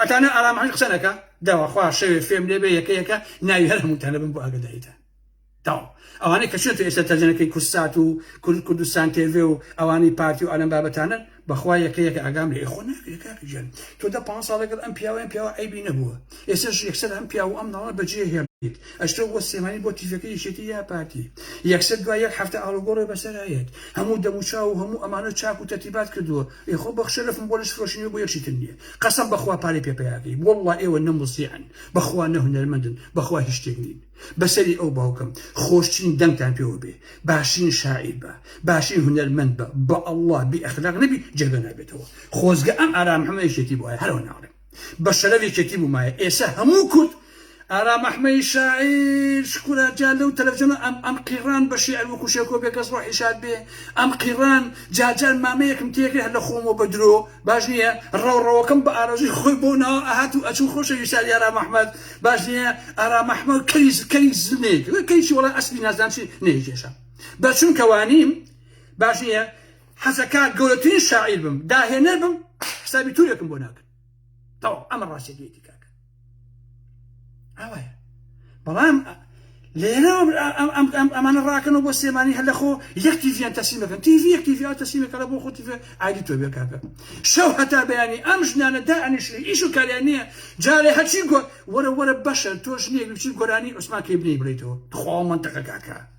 ئەتانە ئارام هەر قسە نەکا داوا خوا شەوێ فێم لێ بێ یەکە یەکە ناوی هەر هەمووتان دەبم بۆ ئاگدایتان تاو ئەوانەی کە چێت ئێستا تەرجەنەکەی کورسات و کورد کوردستان تێڤێ و ئەوانی پارتی و ئەلەم بابەتانە بەخوا یەکە یەکە ئاگام لە ئێخۆ ناکرێت کاکەگیان تۆ دە پ ساڵ لەگەڵ ئەم پیاوەیان پیاوە ئەیبی نەبووە ئێسش یەکسەر ئەم پیاو و ئەم ناڵە بەجێ هێڵیت ئەشتۆ بۆ سێمانی بۆ تیفەکە یەکێتی یا پارتی یەکسەر دوای یەک هەفتە ئاڵوگۆڕێ بەسەرایەت هەموو دەموچاو و هەموو ئەمانە چاک و تەرتیبات کردووە ئێ خۆ بەخ شەرەفم بۆ لەش فرۆشی نوێ بۆ یەک شیتن نیە قەسەم بەخوا پارەی پێ پەیا کەی وەڵڵا ئێوە نە موزیعن بەخوا نە هونەرمەندن بەخوا هیچ شتێک نین بەسەری ئەو باوکەم خۆشترین دەنگتان پێوە بێ باشترین شاعیر بە باشترین هونەرمەند بە بەاڵڵا بی ئەخلاق نەبی جێگە نابێتەوە خۆزگە ئەم ئارام محمەدە شێتی بوایە هەر ئەو ناڵێم. بە شەرەف یەکێتی بومایە ئێسە هەموو کورد ئارام ئەحمەی شاعیر شکورا جا لەو تەلەفزیۆنە ئەم ئەم قیڕان بە شیعر وەکو شێکۆ بێکەس ڕۆحی شاد بێ ئەم قیڕان جارجار مامەیەکم تێکرد هەر لە خۆمەوە بە درۆ باش نییە ڕەوڕەوەکەم بە ئارەزووی خۆی بۆ ناوە ئەهات و ئەچوو خۆشەویستانی ئارام ئەحمەد باش نییە ئارام ئەحمەد کەری کەری زل نەیەکرد کەریی وەڵا ئەسپی نازدان چی نەیکێشا بە چونکە وانیم باش نییە حەسەکە گەورەترین شاعیر بم داهێنەر بم حسابی تورێکم بۆ ناکرد تەوا ئەمە ڕاستێتی کاکە ئاوایە بەڵام لێرە ئەمانە ڕاکەنەوە بۆ سێمانی هەر لە خۆ یەک تیڤیان تەسیم دەکەن تیڤی یەک تیڤیا تەسیمەکەە بۆ خۆ تیڤ ئایدی تۆ بێ کاکە شەو هەتا بەیانی ئەم ژنانە دا ئەنیشی ئیش و کاریان نییە جارێ هەچی گۆ وەرە وەرە بەشە تۆش نیە بچی گۆرانی عوسمان کەی بنی بڵیتەوە خوا منتەقە کاکە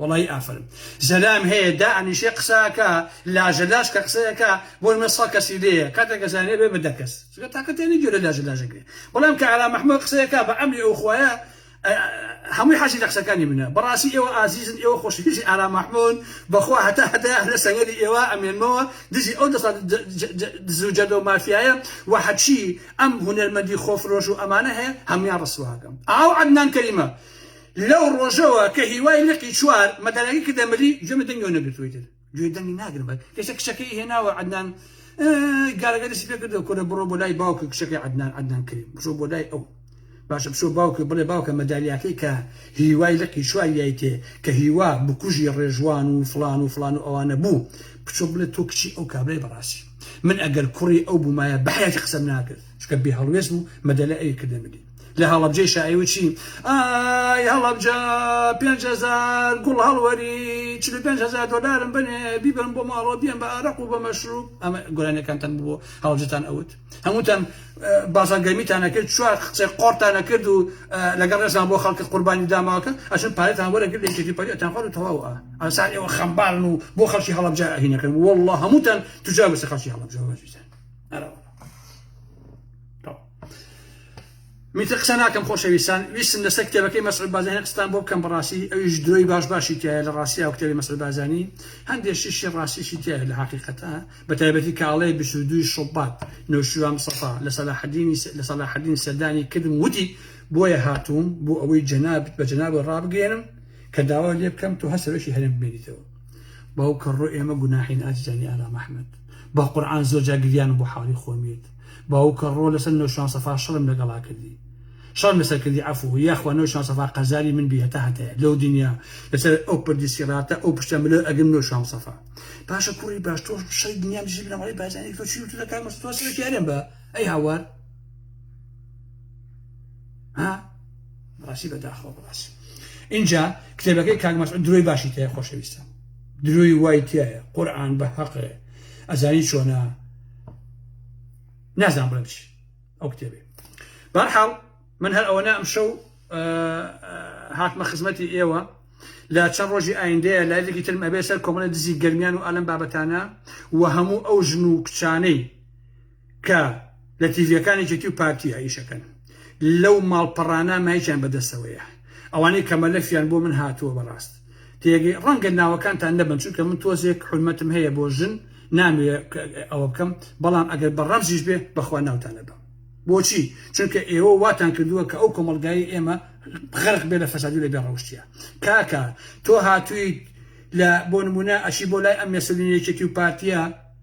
وەڵایی ئافەرم زەلام هەیە دائەنیشێ قسە ئەکا لاژە لاژ کە قسە ئەکا بۆ نمە سەد کەسی لێیە کاتێ گەزانێ بێ بە دە کەس چونکە تاقە تێنی گوێرە لاژە لاژ ئەگرێ بەڵام کە ئارام محمود قسە ئەکا بە ئەمری ئەو خوایە هەمووی حەزی لە قسەکانی منە بەڕاستی ئێوە ئازیزن ئێوە خۆشویستی ئارام محمود بەخوا هەتا هەتا لە سەنگەری ئێوە ئەمێنمەوە دژی ئەو دەسە دزو جەردە و مافیایە و هەچی ئەم هونەرمەندی خۆفرۆش و ئەمانە هەیە هەمویان ڕسواکەم ئاو عەدنان کەریمە لەو ڕۆژەوە کە هیوای لقی چوار مەدەنەگی کردە ملی گوێ مە دەنگی نەگرتووی تر گوێ دەنگی ناگرم بە کەشە کشەکەی هێناوە عدنان گارەگە دەسی پێ کردو کورە بڕۆ بۆ لای باوکە کشەکەی عدنان عدنان کریم بشۆ بۆ لای ئەو باشە بشۆ باوکە بڵێ باوکە مەدالیاکەی کە هیوای لقی چوار یای تێ کە هیوا بکوژی ڕێژوان و فلان و فلان و ئەوانە بوو بچۆ بڵێ تۆ کچی ئەو کابرای بەڕاستی من ئەگەر کوڕی ئەو بوومایە بەحیاتی قسەم ناکرد چکە بێ هەڵوێست بوو مەدەلە ئەوی کردە ملی لە هەڵەبجەی شایی و چی؟ ئای هەڵەبجە پێنج هەزار گوڵ هەڵوەری چل و پێنج هەزار دۆلارم بەنێ بیبەم بۆ ماڵەوە بیەم بە ئارەق و بە مەشروب ئەمە گۆرانیەکانتان بوو هەڵەبجەتان ئەوت هەمووتان بازار گەرمیتانە کرد چوار قسەی قۆڕتانە کرد و لەگەڵ ڕێزمان بۆ خەڵکی قوربانی داماوەکە ئەچون پارەتان وەرەگر لە یەکێتی پەریتان خوارد و تەواوە ئەسان ئێوە خەمبارن و بۆ خەڵکی هەڵەبجە هینەکەن والله هەمووتان تجار بەسەر خەڵکی هەڵەبجەوە بەزویتان ئەرەوە میتر قسە ناکەم خۆشەویستان ویستم لەسەر کتێبەکەی مەسعود بازانی قستان بۆ بکەم بەڕاستی ئەویش درۆی باش باشی تایە لە ڕاستی ئەو کتێبی مەسعود بازانی هەندێک شیشی ڕاستیشی تایە لە حقیقەتە بە تایبەتی کاڵێ 22 شوبات نەوشیروان مستەفا لە سەلاحەدینی لە سەلاحەدین سەردانی کردم وتی بۆیە هاتووم بۆ ئەوەی جەنابت بە جەنابەوە ڕابگەێنم کە داوا لێ بکەم تۆ هەر سەرۆکی هەرێم بمێنیتەوە باو کەڕۆ ئێمە گوناحین ئازیزانی ئارام ئەحمەد با قورئان زۆر جا گریان بۆ حاڵی خۆمیت باوک کە ڕۆ لەسەر نۆشیروان سەفا شەڕم لەگەڵا کردی شەڕم لەسەر کردی عەفوو یاخوا نۆشیروان سەفا قەزاری من بی هەتا هەتایە لەو دنیا لەسەر ئەو پردی سیڕاتە ئەو پشتە ملۆ ئەگرم نۆشیروان سەفا باشە کوڕی باش تۆ شەڕی دنیام دژی بنەماڵەی بارزانی ئەکەی تۆ چی وتوتە کاک مەسرور تۆ سەرەکی ئەرێم بە ئەی هاوار ها بەڕاستی بەداخەوە بەڕاستی ئینجا کتێبەکەی کاک مەسعود درۆی باشی تێ خۆشەویستە درۆی وای تایە قورآن بە هەقێ ئەزانی چۆنە نازان بڵێم چی ئەو کتێبێ بەرحاڵ من هەر ئەوەنە ئەم شەو هاتمە خزمەتی ئێوە لە چەند ڕۆژی ئایندەیە لایڤێکی ترم ئەبێ سەر کۆمەڵە دزی گەرمیان و ئالم بابەتانە و هەموو ئەو ژن و کچانەی کە لە تیڤەکانی جێتی و پارتی ئایشەکەن لەو ماڵپەڕانە مایچیان بەدەستەوەیە ئەوانەی کەمەلەفیان بۆ من هاتووە بەڕاست تێگەی ڕەنگە ناوەکانتان نەبن چونکە من تۆزێک حورمەتم هەیە بۆ ژن نامەوێ ئەوە بکەم بەڵام ئەگەر بە ڕەمزیش بێ بەخوا ناوتان ئەبەم بۆچی چونکە ئێوە واتان کردووە کە ئەو کۆمەڵگای ئێمە غەرق بێ لە فەسادی لە بێ ڕەوشتیە کاکە تۆ هاتوویت لە بۆ نمونە ئەچی بۆ لای ئەم مێسلینێکێتی و پارتیە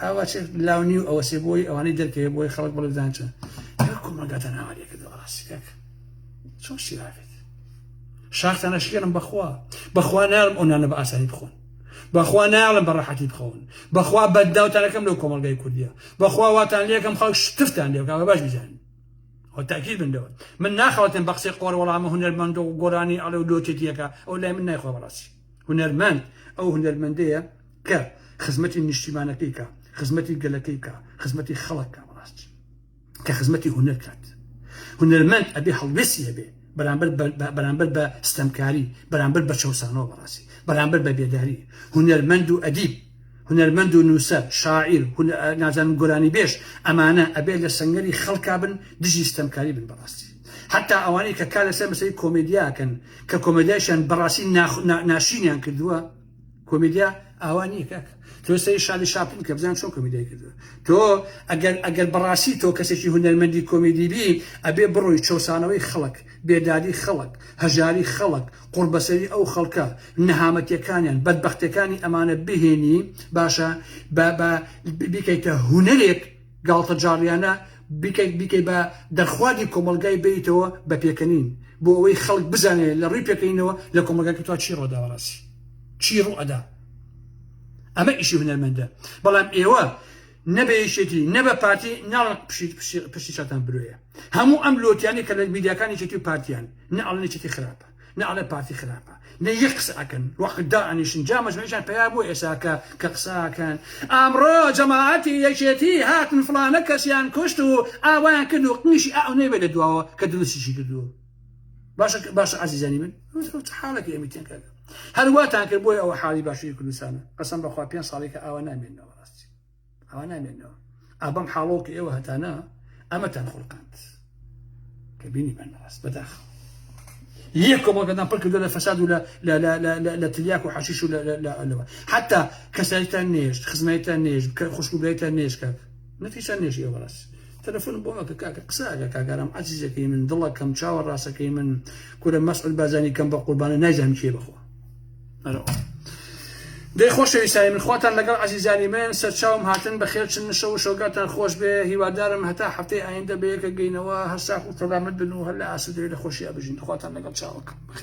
ئاوا چێت لاو نیو ئەوە سێ بۆی ئەوانەی دەرکەوێت بۆی خەڵک بڵێ بدان چۆن کۆمەگاتە ناوارێکە دەڕاستی کاک چۆن سیراکەت شاختانە شکێنم بەخوا بەخوا ناڵم ئەو نانە بە ئاسانی بخۆن بەخوا ناڵم بە ڕەحەتی بخەون بەخوا بەداوتانەکەم لەو کۆمەلگای کوردیە بەخوا واتان لەکەم خەڵک شتفتان لێکە بە باش بزانین تاکیل بندەوە من ناخەوتن بە قسەی قۆر وەڵامە هونەرمەند و گۆرانی ئەڵێ و لۆتێتیەکە ئەو لای من نایخوا بەڕاستی هونەرمەند ئەو هونەرمەندەیە کە خزمەتی نیشتیمانەکەی کا خزمەتی گەلەکەی کا خزمەتی خەڵک کا بەڕاست کە خزمەتی هونەر کات هونەرمەند ئەبێ هەڵوێسی هەبێ بەرامبەر بەرامبەر بە ستەمکاری بەرامبەر بە چەسانەوە بەڕاستی بەرامبەر بە بێداری هونەرمەند و ئەدیب هونەرمەند و نووسەر شاعیر نازان گۆرانی بێش ئەمانە ئەبێ لە سنگەری خەڵکا بن دژی ستەمکاری بن بەڕاستی حتا ئەوانەی کە کا لەسەر مەسەی کۆمەدیاکەن کە کۆمەدیایشان بەڕاستی ناشینیان کردووە کۆمیدیا ئاوا نییە کاکە تۆ سەری شالی شاپن کە بزان چۆن کۆمیدای کردووە تۆ ئەگەر ئەگەر بەڕاستی تۆ کەسێکی هونەرمەندی کۆمیدی بی ئەبێ بڕۆی چەسانەوەی خەڵک بێدادی خەڵک هەژاری خەڵک قوڕبەسەری ئەو خەڵکە نەهامەتیەکانیان بەدبەختەکانی ئەمانە بهێنی باشە بە بیکەیتە هونەرێک گاڵتەجاڕیانە بیکەیت بیکەیت بە دەرخواردی کۆمەڵگای بێیتەوە بە پێکەنین بۆ ئەوەی خەڵک بزانێت لە ڕووی پێکەینەوە لە کۆمەگاکە توا چی ڕۆدا بەڕاستی چی ڕوئەدا ئەمە ئیشی هونەرمەندە بەڵام ئێوە نەبێ یەکێتی نەبە پارتی ناڵن پشتی چاتان برۆیە هەموو ئەم لۆتیانی کە لە میدیاکانی چێتی و پارتیان نە ئەڵنێکێتی خراپە نەعلەت پارتی خراپە نە یەک قسە ئەکەن وەخت دا ئەنیشن جا مەجموعیشان پەیا بوو ئێساکە کە قساکەن ئەمڕۆ جەماعەتی یەکێتی هاتن فڵانە کەسیان کوشت و ئاوایان کرد و قنیشی ئەو نەیبێ لە دواوە کە دروستیشی کردووە باشە باشە عزیزانی من حاڵێک ئێمە تێنکە هەرواتان کرد بۆی ئەوە حاڵی باشووری کوردستانە قسم بەخوا پێ ساڵێکە ئاوا نامێنەوە ڕاستی ئەوە نامێنەوە ئا بەم حاڵەوە کە ئێوە هەتانە ئەمەتان خوڵقاند کە بینیمان ڕاست بەداخەوە یەک کۆمەڵگەدان پڕ کردو لە فەساد و لە تلیاک و حەشیش و لەوە حتا کەسایتان نێشت خزمەتان نێش کە خوشکوبێتان نێشکە نەتیشان نێژ ئێوە ڕاست تەلەفۆن بۆ ئەکە کاکە قساگە کاگەرام عزیزەکەی من دڵەکەم چاوە ڕاستەکەی من کورە مەسعود بازانی کەم بە قوربانە نایزانم کێ بخۆ دەی خۆشەویستانی من خواتان لەگەڵ عزیزانی من سەرچاوم هاتن بە خێرچن نشە و شۆگاتان خۆش بێ هیوادارم هەتا هەفتەی ئایندە بەیەکە گەینەوە هەر ساخ و سەلامت بن و هەر لە ئاسودەوی لە خۆشییا بژین خواتان لەگەڵ چاوەکە بخێر